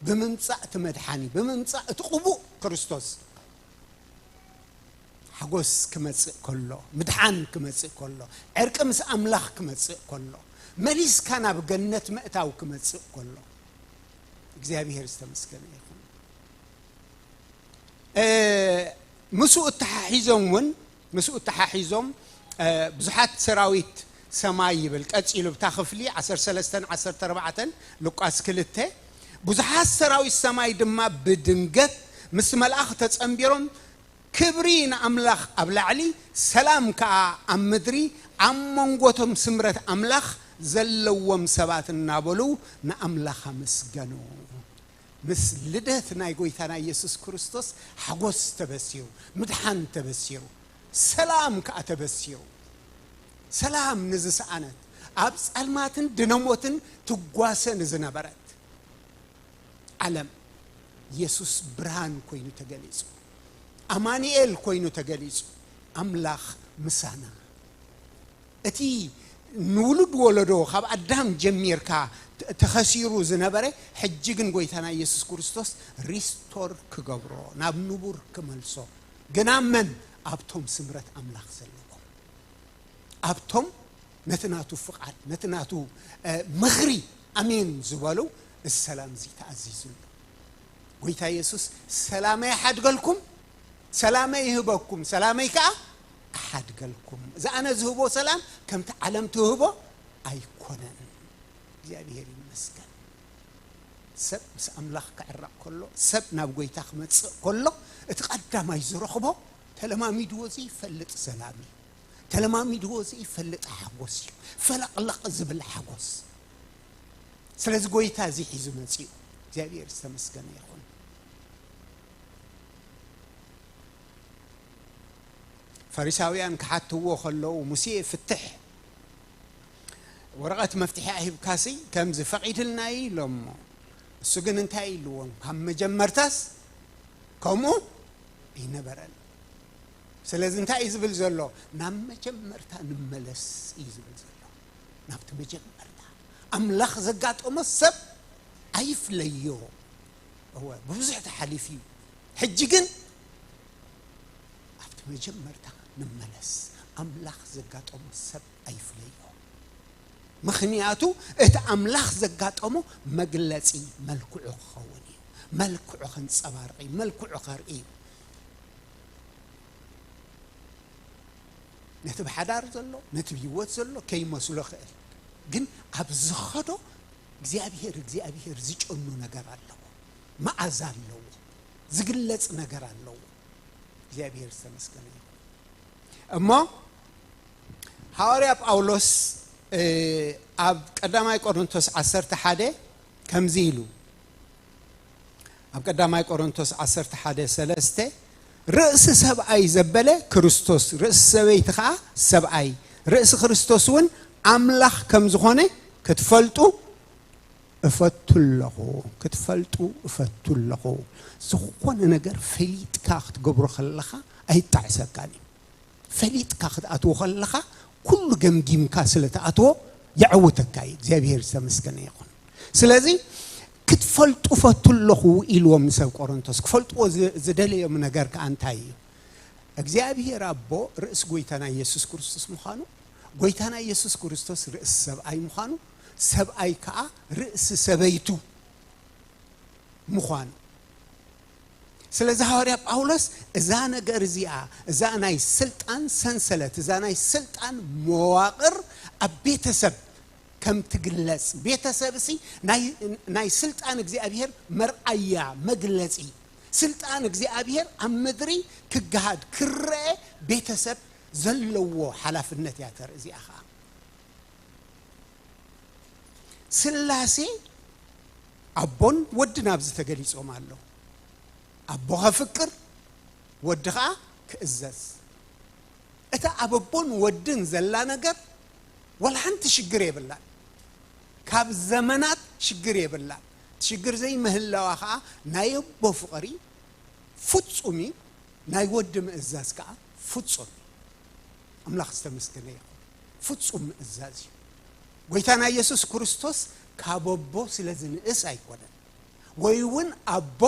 Speaker 2: ብምምጻእ እቲ መድሓኒ፣ ብምምጻእ እቲ ቅቡእ ክርስቶስ ሓጎስ ክመጽእ ከሎ፣ ምድሓን ክመጽእ ከሎ፣ ዕርቂ ምስ ኣምላኽ ክመጽእ ከሎ፣ መሊስካ ናብ ገነት ምእታው ክመጽእ ከሎ እግዚኣብሄር ዝተመስገነ ይኹን። ምስኡ እተሓሒዞም እውን ምስኡ እተሓሒዞም ብዙሓት ሰራዊት ሰማይ ይብል ቀጺሉ ብታ ክፍሊ ዓሰርተ ሰለስተን ዓሰርተ ኣርባዕተን ሉቃስ ክልተ ብዙሓት ሰራዊት ሰማይ ድማ ብድንገት ምስ መልኣኽ ተጸንቢሮም ክብሪ ንኣምላኽ ኣብ ላዕሊ ሰላም ከኣ ኣብ ምድሪ ኣብ መንጎቶም ስምረት ኣምላኽ ዘለዎም ሰባት እናበሉ ንኣምላኽ ኣመስገኑ። ምስ ልደት ናይ ጎይታና ኢየሱስ ክርስቶስ ሓጎስ ተበሲሩ፣ ምድሓን ተበሲሩ፣ ሰላም ከኣ ተበሲሩ። ሰላም ንዝሰኣነት፣ ኣብ ጸልማትን ድነሞትን ትጓሰ ንዝነበረት ዓለም ኢየሱስ ብርሃን ኮይኑ ተገሊጹ። ኣማኑኤል ኮይኑ ተገሊጹ፣ ኣምላኽ ምሳና። እቲ ንውሉድ ወለዶ ካብ ኣዳም ጀሚርካ ተኸሲሩ ዝነበረ ሕጂ ግን ጎይታና ኢየሱስ ክርስቶስ ሪስቶር ክገብሮ ናብ ንቡር ክመልሶ ግን ኣብ መን ኣብቶም ስምረት ኣምላኽ ዘለዎም ኣብቶም ነቲ ናቱ ፍቓድ ነቲ ናቱ ምኽሪ ኣሜን ዝበሉ እዚ ሰላም እዚ ተኣዚዙ ኣሎ ጎይታ ኢየሱስ ሰላመይ ኣሓድገልኩም ሰላመይ ይህበኩም፣ ሰላመይ ከኣ እሓድገልኩም። እዚ ኣነ ዝህቦ ሰላም ከምቲ ዓለም ትህቦ ኣይኮነን። እግዚኣብሄር ይመስገን። ሰብ ምስ ኣምላኽ ክዕረቕ ከሎ፣ ሰብ ናብ ጐይታ ክመጽእ ከሎ፣ እቲ ቀዳማይ ዝረኽቦ ተለማሚድዎ ዘይፈልጥ ሰላም እዩ። ተለማሚድዎ ዘይፈልጥ ሓጐስ እዩ። ፈለቕለቕ ዝብል ሓጐስ። ስለዚ ጐይታ እዚ ሒዙ መጺኡ። እግዚኣብሄር ዝተመስገነ ይኹን። ፈሪሳውያን ክሓትዎ ከለዉ ሙሴ ፍትሕ ወረቐት መፍትሒ ኣሂብካሲ ከምዚ ፈቒድልና እዩ ኢሎሞ እሱ ግን እንታይ ኢልዎም ካብ መጀመርታስ ከምኡ ኣይነበረን ስለዚ እንታይ እዩ ዝብል ዘሎ ናብ መጀመርታ ንመለስ እዩ ዝብል ዘሎ ናብቲ መጀመርታ ኣምላኽ ዘጋጠሞ ሰብ ኣይፍለዮ እወ ብብዙሕ ተሓሊፉ እዩ ሕጂ ግን ኣብቲ መጀመርታ ንመለስ ኣምላኽ ዘጋጠሞ ሰብ ኣይፍለዮ ምኽንያቱ እቲ ኣምላኽ ዘጋጠሞ መግለጺ መልክዑ ክኸውን እዩ መልክዑ ከንጸባርቕ እዩ መልክዑ ከርኢ እዩ ነቲ ብሓዳር ዘሎ ነቲ ብሂወት ዘሎ ከይመስሎ ክእል ግን ኣብ ዝኸዶ እግዚኣብሄር እግዚኣብሄር ዝጨኑ ነገር ኣለዎ መኣዛ ኣለዎ ዝግለጽ ነገር ኣለዎ እግዚኣብሄር ዝተመስገነ ይኹን እሞ ሃዋርያ ጳውሎስ ኣብ ቀዳማይ ቆሮንቶስ ዓሰርተ ሓደ ከምዚ ኢሉ ኣብ ቀዳማይ ቆሮንቶስ ዓሰርተ ሓደ ሰለስተ ርእሲ ሰብኣይ ዘበለ ክርስቶስ ርእሲ ሰበይቲ ከዓ ሰብኣይ ርእሲ ክርስቶስ እውን ኣምላኽ ከም ዝኾነ ክትፈልጡ እፈቱ ኣለኹ ክትፈልጡ እፈቱ ኣለኹ ዝኾነ ነገር ፈሊጥካ ክትገብሮ ከለኻ ኣይጣዕሰካን እዩ ፈሊጥካ ክትኣትዎ ከለኻ ኩሉ ገምጊምካ ስለ ትኣትዎ የዐውተካ እዩ እግዚኣብሄር ዝተመስገነ ይኹን ስለዚ ክትፈልጡ ፈቱ ኣለኹ ኢልዎም ንሰብ ቆሮንቶስ ክፈልጥዎ ዝደለዮም ነገር ከኣ እንታይ እዩ እግዚኣብሄር ኣቦ ርእሲ ጎይታና ኢየሱስ ክርስቶስ ምዃኑ ጎይታና ኢየሱስ ክርስቶስ ርእሲ ሰብኣይ ምዃኑ ሰብኣይ ከኣ ርእሲ ሰበይቱ ምዃኑ ስለዚ ሃዋርያ ጳውሎስ እዛ ነገር እዚኣ እዛ ናይ ስልጣን ሰንሰለት እዛ ናይ ስልጣን መዋቕር ኣብ ቤተሰብ ከም ትግለጽ ቤተሰብ እሲ ናይ ስልጣን እግዚኣብሔር መርኣያ መግለጺ ስልጣን እግዚኣብሔር ኣብ ምድሪ ክገሃድ ክረአ ቤተሰብ ዘለዎ ሓላፍነት እያ ተርኢ እዚኣ ከዓ ስላሴ ኣቦን ወድን ኣብዚ ተገሊጾም ኣለዉ። ኣቦ ከፍቅር ወዲ ኸኣ ክእዘዝ። እታ ኣብ ኣቦን ወድን ዘላ ነገር ዋላ ሓንቲ ሽግር የብላን። ካብ ዘመናት ሽግር የብላን። እቲ ሽግር ዘይምህላዋ ኸኣ ናይ ኣቦ ፍቕሪ ፍጹም እዩ፣ ናይ ወዲ ምእዛዝ ከኣ ፍጹም እዩ። ኣምላኽ ዝተመስገነ ይኹን። ፍጹም ምእዛዝ እዩ። ጐይታና ኢየሱስ ክርስቶስ ካብ ኣቦ ስለ ዝንእስ ኣይኰነን፣ ወይ እውን ኣቦ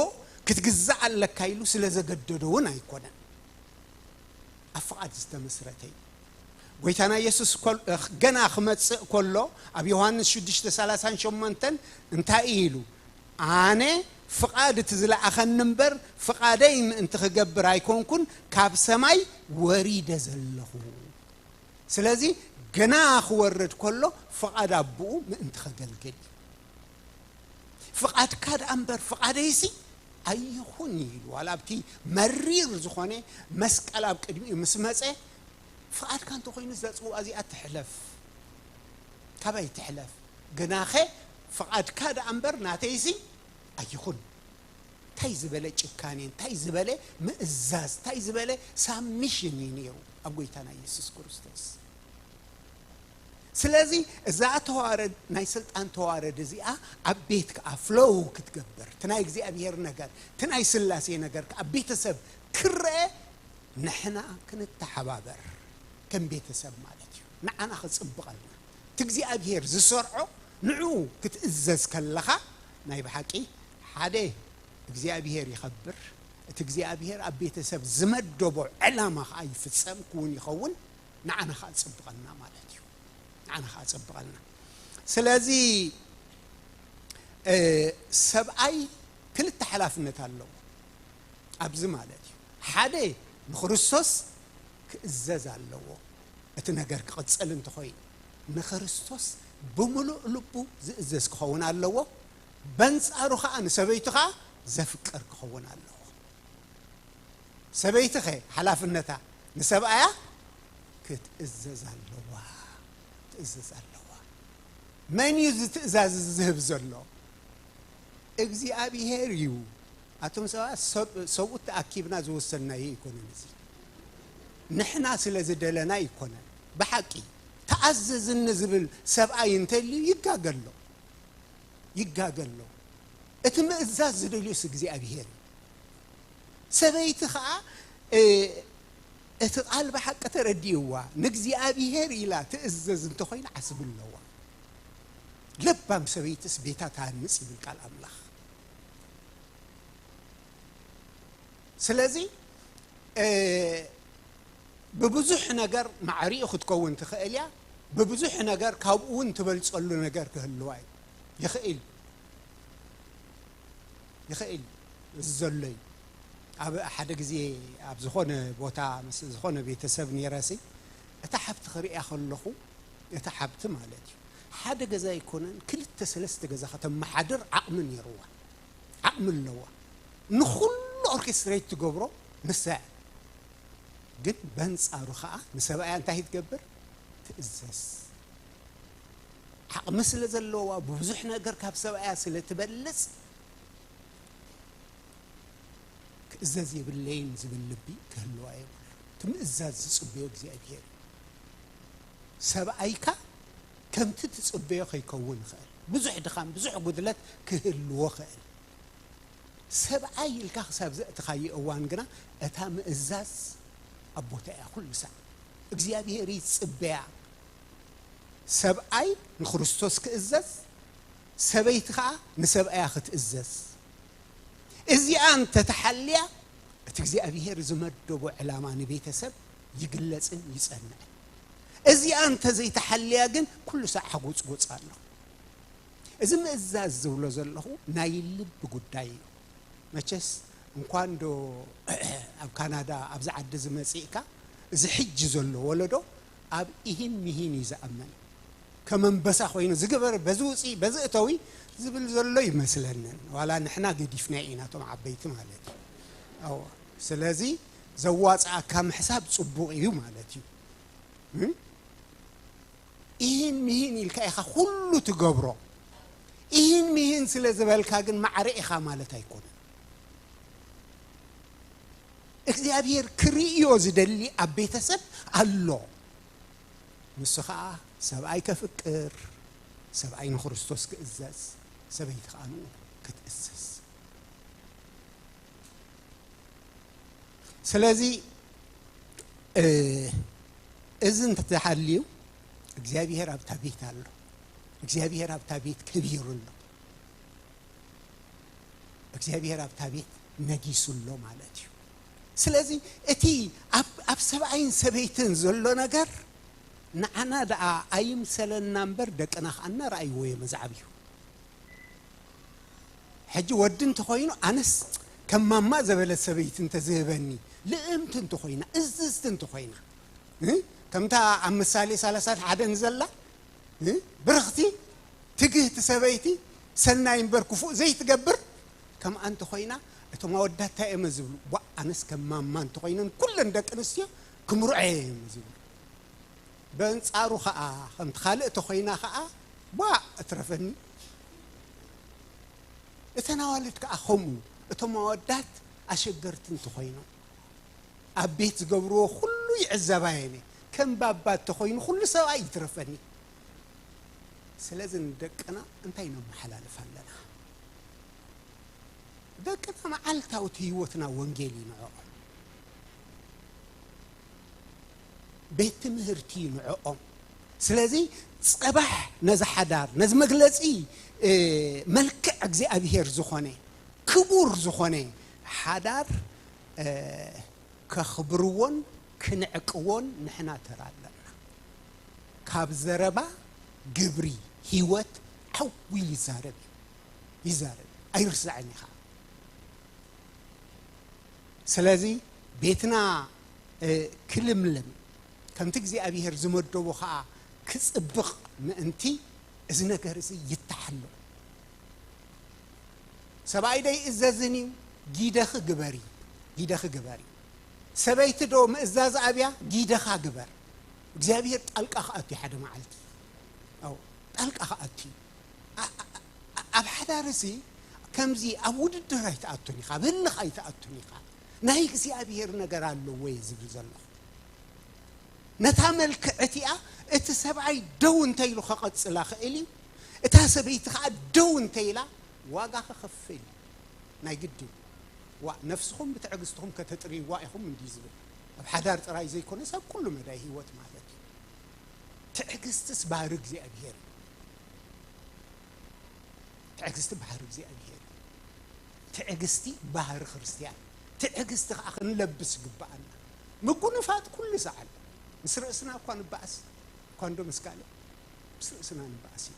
Speaker 2: ክትግዛእ ኣለካ ኢሉ ስለ ዘገደዶ እውን ኣይኰነን። ኣብ ፍቓድ ዝተመስረተ እዩ። ጐይታና ኢየሱስ ገና ክመጽእ ከሎ ኣብ ዮሃንስ ሽዱሽተ ሰላሳን ሸሞንተን እንታይ እዩ ኢሉ? ኣነ ፍቓድ እቲ ዝለኣኸኒ እምበር ፍቓደይ ምእንቲ ክገብር ኣይኰንኩን ካብ ሰማይ ወሪደ ዘለኹ። ስለዚ ገና ክወርድ ከሎ ፍቓድ ኣቦኡ ምእንቲ ኸገልግል እዩ። ፍቓድካ ደኣ እምበር ፍቓደይሲ ኣይኹን ኢሉ ዋላ ኣብቲ መሪር ዝኾነ መስቀል ኣብ ቅድሚኡ ምስ መጸ ፍቓድካ እንተኾይኑስ እዛ ጽዋ እዚኣ ትሕለፍ ካባይ ትሕለፍ ገናኸ ፍቓድካ ደኣ እምበር ናተይሲ ኣይኹን ታይ ዝበለ ጭካኔ ታይ ዝበለ ምእዛዝ ታይ ዝበለ ሳብሚሽን እዩ ነይሩ ኣብ ጎይታና የሱስ ክርስቶስ ስለዚ እዛ ተዋረድ ናይ ስልጣን ተዋረድ እዚኣ ኣብ ቤት ከዓ ፍሎው ክትገብር እቲ ናይ እግዚኣብሄር ነገር እቲ ናይ ስላሴ ነገር ከዓ ቤተሰብ ክረአ ንሕና ክንተሓባበር ከም ቤተሰብ ማለት እዩ ንዓና ክፅብቐልና እቲ እግዚኣብሄር ዝሰርዖ ንዕኡ ክትእዘዝ ከለኻ ናይ ብሓቂ ሓደ እግዚኣብሄር ይኸብር፣ እቲ እግዚኣብሄር ኣብ ቤተሰብ ዝመደቦ ዕላማ ኸኣ ይፍጸም፣ ክዉን ይኸውን፣ ንዓና ኸኣ ጽብቐልና ማለት እዩ። ንዓና ኸኣ ጽብቐልና። ስለዚ ሰብኣይ ክልተ ሓላፍነት ኣለዎ ኣብዚ ማለት እዩ። ሓደ ንክርስቶስ ክእዘዝ ኣለዎ፣ እቲ ነገር ክቕጽል እንተኾይኑ ንክርስቶስ ብምሉእ ልቡ ዝእዘዝ ክኸውን ኣለዎ፣ በንጻሩ ከኣ ንሰበይቱ ከኣ ዘፍቅር ክኸውን ኣለዎ። ሰበይቲኸ ሓላፍነታ ንሰብኣያ ክትእዘዝ ኣለዋ ክትእዘዝ ኣለዋ። መን እዩ እዚ ትእዛዝ እዚ ዝህብ ዘሎ? እግዚኣብሄር እዩ። ኣቱም ሰባት ሰብ ሰብኡት ተኣኪብና ዝወሰንናዮ ኣይኮነን እዚ ንሕና ስለ ዝደለና ኣይኮነን። ብሓቂ ተኣዘዝኒ ዝብል ሰብኣይ እንተልዩ ይጋገ ኣሎ። ይጋገ ኣሎ እቲ ምእዛዝ ዝደልዮስ እግዚኣብሄር እዩ ሰበይቲ ከኣ እቲ ቃል ብሓቂ ተረዲእዋ ንእግዚኣብሄር ኢላ ትእዘዝ እንተኾይና ዓስቢ ኣለዋ ለባም ሰበይትስ ቤታ ትሃንጽ ይብል ቃል ኣምላኽ ስለዚ ብብዙሕ ነገር ማዕሪኡ ክትከውን ትኽእል እያ፣ ብብዙሕ ነገር ካብኡ እውን ትበልፀሉ ነገር ክህልዋ እዩ ይኽእል ይኽእል እዚ ዘሎ እዩ። ኣብ ሓደ ግዜ ኣብ ዝኾነ ቦታ ምስ ዝኾነ ቤተሰብ ነይረሲ እታ ሓብቲ ክርእያ ከለኹ እታ ሓብቲ ማለት እዩ ሓደ ገዛ ኣይኮነን ክልተ ሰለስተ ገዛ ከተመሓድር ዓቕሚ ነይርዋ። ዓቕሚ ኣለዋ ንኹሉ ኦርኬስትሬት ትገብሮ ንሳ እያ ግን በንጻሩ ከኣ ንሰብኣያ እንታይ ትገብር ትእዘዝ ዓቕሚ ስለ ዘለዋ ብብዙሕ ነገር ካብ ሰብኣያ ስለ ትበልጽ ክእዘዝ የብለይን ዝብል ልቢ ክህልዋ የብሉ ትምእዛዝ ዝጽበዮ እግዚኣብሄር እዩ ሰብኣይካ ከምቲ ትጽበዮ ከይከውን ይኸእል ብዙሕ ድኻም ብዙሕ ጉድለት ክህልዎ ይኸእል ሰብኣይ ኢልካ ክሳብ ዘእትኻዮ እዋን ግና እታ ምእዛዝ ኣብ ቦታ እያ ኩሉ ሳዕ እግዚኣብሄር ይጽበያ ሰብኣይ ንክርስቶስ ክእዘዝ ሰበይቲ ከኣ ንሰብኣያ ክትእዘዝ እዚኣ እንተ ተሓልያ እቲ እግዚኣብሄር ዝመደቦ ዕላማ ንቤተሰብ ይግለጽን ይጸንዕን። እዚኣ እንተ ዘይተሓልያ ግን ኩሉ ሳዕ ሓጎጽጎጽ ኣሎ። እዚ ምእዛዝ ዝብሎ ዘለኹ ናይ ልቢ ጉዳይ እዩ። መቸስ እንኳንዶ ኣብ ካናዳ ኣብዚ ዓዲ እዚ መጺእካ እዚ ሕጂ ዘሎ ወለዶ ኣብ ኢሂን ሚሂን እዩ ዝኣምን። ከም ኣንበሳ ኮይኑ እዚ ግበሪ በዚ ውጺ በዚ እተዊ ዝብል ዘሎ ይመስለንን ዋላ ንሕና ገዲፍናዮ ኢና እቶም ዓበይቲ ማለት እዩ። ኣዎ ስለዚ ዘዋጽኣካ ምሕሳብ ጽቡቅ ኢዩ ማለት ኢዩ። ኢሂን ሚሂን ኢልካ ኢኻ ኩሉ ትገብሮ። ኢሂን ሚሂን ስለ ዝበልካ ግን ማዕረ ኢኻ ማለት ኣይኮነን። እግዚኣብሄር ክርእዮ ዝደሊ ኣብ ቤተሰብ ኣሎ። ንሱ ኸኣ ሰብኣይ ከፍቅር፣ ሰብኣይ ንክርስቶስ ክእዘዝ፣ ሰበይቲ ኸኣ ንኡ ክትእዘዝ። ስለዚ እዚ እንተተሓልዩ እግዚኣብሄር ኣብታ ቤት ኣሎ እግዚኣብሄር ኣብታ ቤት ከቢሩ ኣሎ እግዚኣብሄር ኣብታ ቤት ነጊሱ ኣሎ ማለት እዩ ስለዚ እቲ ኣብ ሰብኣይን ሰበይትን ዘሎ ነገር ንዓና ደኣ ኣይምሰለና እምበር ደቅና ከዓ እናረኣይዎ እዮም እዚ ዓብዩ ሕጂ ወዲ እንተኾይኑ ኣነስ ከም ማማ ዘበለት ሰበይቲ እንተዝህበኒ ልእምቲ እንተኾይና እዝዝቲ እንተኾይና ከምታ ኣብ ምሳሌ ሰላሳን ሓደን ዘላ ብርኽቲ ትግህቲ ሰበይቲ ሰናይ እምበር ክፉእ ዘይትገብር ከምኣ እንተኾይና እቶም ኣወዳት እንታይ እየመ ዝብሉ ቧእ ኣነስ ከም ማማ እንተኾይነን ኩለን ደቂ ኣንስትዮ ክምርዖ እየመ ዝብሉ በንጻሩ ከኣ ከምቲ ካልእ ተኮይና ከኣ ቧእ እትረፈኒ እተን ኣዋልድ ከኣ ከምኡ እቶም ኣወዳት ኣሸገርቲ እንተኮይኖም ኣብ ቤት ዝገብርዎ ኩሉ ይዕዘባ የኔ ከም ባባ እንተኮይኑ ኩሉ ሰብኣይ ይትረፈኒ ስለዚ ንደቅና እንታይ ነመሓላልፍ ኣለና ደቅና መዓልታዊ ህይወትና ወንጌል እዩ ንዕኦም ቤት ትምህርቲ እዩ ንዕኦም ስለዚ ጸባሕ ነዚ ሓዳር ነዚ መግለጺ መልክዕ እግዚኣብሄር ዝኾነ ክቡር ዝኾነ ሓዳር ከኽብርዎን ክንዕቅዎን ንሕና ተራ ኣለና ካብ ዘረባ ግብሪ ህይወት ዓው ኢሉ ይዛረብ እዩ ይዛረብ እዩ ኣይርሳዕን እዩ ከዓ ስለዚ ቤትና ኪልምልም፣ ከምቲ እግዚኣብሄር ዝመደቦ ኸኣ ኪጽብቕ ምእንቲ፣ እዚ ነገር እዚ ይተሓሎ። ሰብኣይዶ ኣይእዘዝን እዩ? ጊደኺ ግበሪ፣ ጊደኺ ግበሪ። ሰበይቲዶ ምእዛዝ ኣብያ? ጊደኻ ግበር። እግዚኣብሄር ጣልቃ ክኣቱ እዩ ሓደ መዓልቲ። ኣዎ ጣልቃ ክኣቱ እዩ። ኣ- ኣ- ኣ- ኣብ ሓዳር እዚ ከምዚ ኣብ ውድድር ኣይትኣቱን ኢኻ፣ ኣብ ህልኽ ኣይትኣቱን ኢኻ። ናይ እግዚኣብሄር ነገር ኣለዎ እየ ዝብል ዘለኹ። ነታ መልክዕ እቲኣ እቲ ሰብኣይ ደው እንተ ኢሉ ከቐጽላ ክእል እዩ፣ እታ ሰበይቲ ከኣ ደው እንተ ኢላ ዋጋ ክኽፍል እዩ። ናይ ግድን ዋእ ነፍስኹም ብትዕግስትኹም ከተጥርይዋ ኢኹም እንድዩ ዝብል። ኣብ ሓዳር ጥራይ ዘይኮነስ ኣብ ኩሉ መዳይ ህይወት ማለት እዩ። ትዕግስትስ ባህሪ እግዚኣብሄር እዩ። ትዕግስቲ ባህሪ እግዚኣብሄር እዩ። ትዕግስቲ ባህሪ ክርስትያን እዩ። ትዕግስቲ ከኣ ክንለብስ ይግብኣና። ምጉንፋጥ ኩሉ ሰዓል ምስ ርእስና እኳ ንበኣስ እኳ እንዶ ምስ ካልእ ምስ ርእስና ንበኣስ ኢና።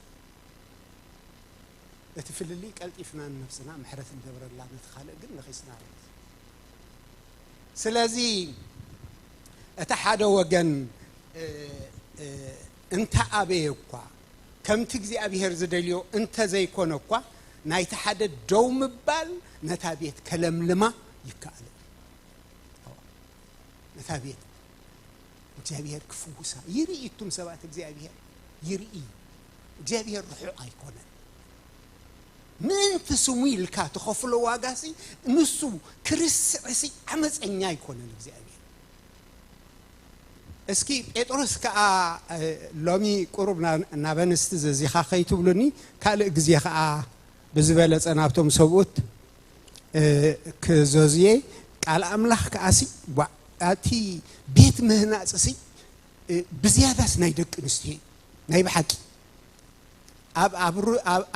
Speaker 2: እቲ ፍልልይ ቀልጢፍና ንነብስና ምሕረት ንገብረላ ነቲ ካልእ ግን ነኺስና ማለት እዩ። ስለዚ እቲ ሓደ ወገን እንተኣበየ እኳ ከምቲ እግዚኣብሄር ዝደልዮ እንተ ዘይኰነ እኳ፣ ናይቲ ሓደ ደው ምባል ነታ ቤት ከለምልማ ይከኣል እዩ። እወ፣ ነታ ቤት እግዚኣብሄር ክፍውሳ ይርኢ። እቱም ሰባት እግዚኣብሄር ይርኢ እዩ። እግዚኣብሄር ርሑቕ ኣይኰነን። ምእንቲ ስሙ ኢልካ ትኸፍሎ ዋጋሲ ንሱ ክርስዕሲ ዓመጸኛ ኣይኰነን እግዚኣብሄር። እስኪ ጴጥሮስ ከኣ ሎሚ ቁሩብ ናብ ኣንስቲ ዘዚኻ ከይትብሉኒ ካልእ ግዜ ከኣ ብዝበለጸ ናብቶም ሰብኡት ክዘዙየ ቃል ኣምላኽ ከኣሲ ዋእ ኣቲ ቤት ምህናጽሲ ብዝያዳስ ናይ ደቂ ኣንስትዮ እዩ ናይ ብሓቂ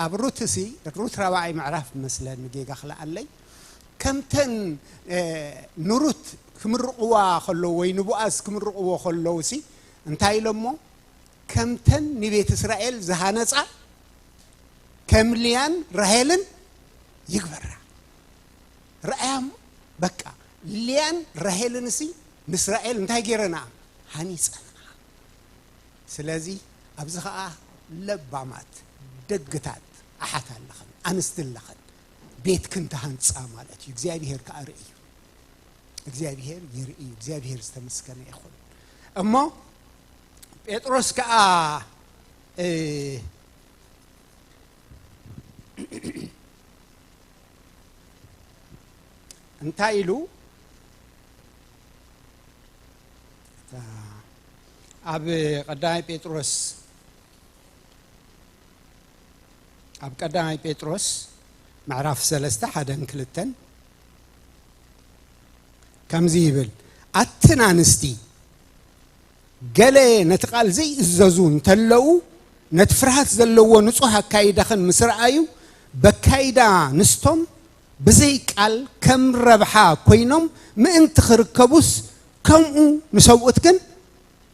Speaker 2: ኣብ ሩትሲ ሩት ራብዓይ ምዕራፍ መስለኒ ጌጋ ክለኣለይ ከምተን ንሩት ክምርቕዋ ከለዉ ወይ ንቦኣዝ ክምርቕዎ ከለዉሲ እንታይ ኢሎሞ ከምተን ንቤት እስራኤል ዝሃነጻ ከም ልያን ራሄልን ይግበራ ርኣያሞ በቃ ልያን ራሄልንሲ ንእስራኤል እንታይ ገይረና ሃኒጸንኣ ስለዚ ኣብዚ ኸኣ ለባማት ደግታት ኣሓት ኣለኽን ኣንስቲ ኣለኽን ቤትክን ተሃንጻ ማለት እዩ እግዚኣብሄር ከኣ ርእዩ እግዚኣብሄር ይርእዩ እግዚኣብሄር ዝተመስገነ ይኹን እሞ ጴጥሮስ ከኣ እንታይ ኢሉ ኣብ ቀዳማይ ጴጥሮስ ኣብ ቀዳማይ ጴጥሮስ ምዕራፍ ሰለስተ ሓደን ክልተን ከምዚ ይብል ኣትን ኣንስቲ ገለ ነቲ ቃል ዘይእዘዙ እንተለዉ ነቲ ፍርሃት ዘለዎ ንጹህ ኣካይዳኽን ምስ ረኣዩ በካይዳ ንስቶም ብዘይ ቃል ከም ረብሓ ኮይኖም ምእንቲ ክርከቡስ ከምኡ ንሰብኡት ግን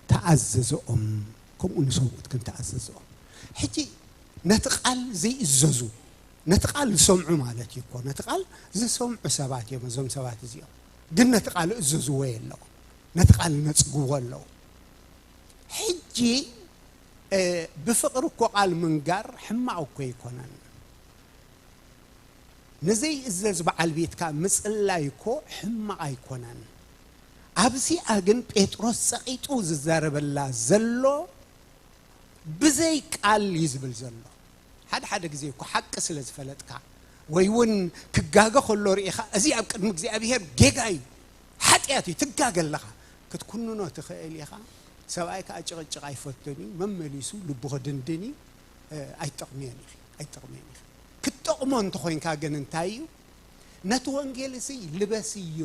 Speaker 2: ተኣዘዘኦም ከምኡ ንሰብኡት ከምቲ ኣዘዘኦም። ሕጂ ነቲ ቃል ዘይእዘዙ፣ ነቲ ቃል ዝሰምዑ ማለት እዩ እኮ፣ ነቲ ቃል ዝሰምዑ ሰባት እዮም እዞም ሰባት እዚኦም። ግን ነቲ ቃል እእዘዝዎ የለዉ፣ ነቲ ቃል ይነጽግዎ ኣለዉ። ሕጂ ብፍቕሪ እኮ ቃል ምንጋር ሕማቕ እኮ ኣይኮነን። ንዘይእዘዝ በዓል ቤትካ ምጽላይ እኮ ሕማቕ ኣይኮነን። ኣብዚኣ ግን ጴጥሮስ ጸቒጡ ዝዛረበላ ዘሎ ብዘይ ቃል እዩ ዝብል ዘሎ። ሓደ ሓደ ግዜ እኮ ሓቂ ስለ ዝፈለጥካ ወይ እውን ክጋገ ከሎ ርኢኻ እዚ ኣብ ቅድሚ እግዚኣብሄር ጌጋ እዩ ሓጢኣት እዩ ትጋገ ኣለኻ ክትኩንኖ ትኽእል ኢኻ። ሰብኣይ ከዓ ጭቕጭቕ ኣይፈቱን እዩ መመሊሱ ልቡ ክድንድን እዩ ኣይትጠቕምዮን ኢኺ ኣይትጠቕምዮን ኢኺ ክትጠቕሞ እንተኾይንካ ግን እንታይ እዩ ነቲ ወንጌል እዚ ልበስ እዩ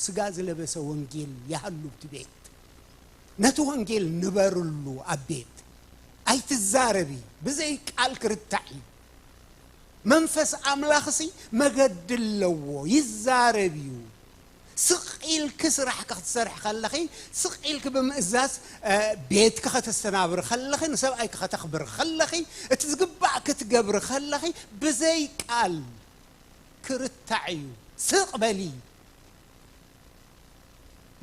Speaker 2: ስጋ ዝለበሰ ወንጌል ያሃሉ ኣብቲ ቤት ነቲ ወንጌል ንበርሉ ኣብ ቤት ኣይትዛረቢ ብዘይ ቃል ክርታዕ እዩ መንፈስ ኣምላኽ ሲ መገዲ ኣለዎ ይዛረብ እዩ ስቕ ኢልኪ ስራሕኪ ክትሰርሒ ከለኺ ስቕ ኢልኪ ብምእዛዝ ቤትኪ ከተስተናብሪ ከለኺ ንሰብኣይኪ ከተኽብሪ ከለኺ እቲ ዝግባእ ክትገብሪ ከለኺ ብዘይ ቃል ክርታዕ እዩ ስቅ በሊ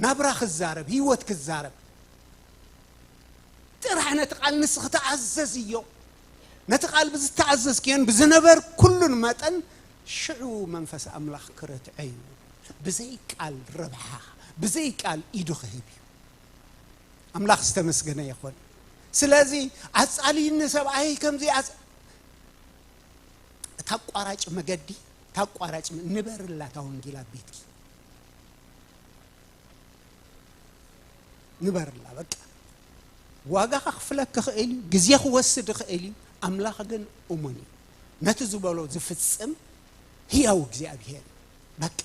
Speaker 2: ናብራ ክዛረብ ሂወት ክዛረብ ጥራሕ ነቲ ቃል ንስኺ ተኣዘዝዮ ነቲ ቃል ብዝተኣዘዝክዮን ብዝነበርኩሉን መጠን ሽዑ መንፈስ ኣምላኽ ክረትዐ እዩ ብዘይ ቃል ረብሓ ብዘይ ቃል ኢዱ ክህብ እዩ ኣምላኽ ዝተመስገነ ይኹን ስለዚ ኣጻልዩኒ ሰብኣይ ከምዚ እታ ኣቋራጭ መገዲ እታ ኣቋራጭ ንበርላ እታ ወንጌል ኣብ ቤትኪ ንበርላ በቃ ዋጋ ከኽፍለክ ክኽእል እዩ ግዜ ክወስድ ይኽእል እዩ ኣምላኽ ግን እሙን እዩ ነቲ ዝበሎ ዝፍጽም ህያው እግዚኣብሄር በቃ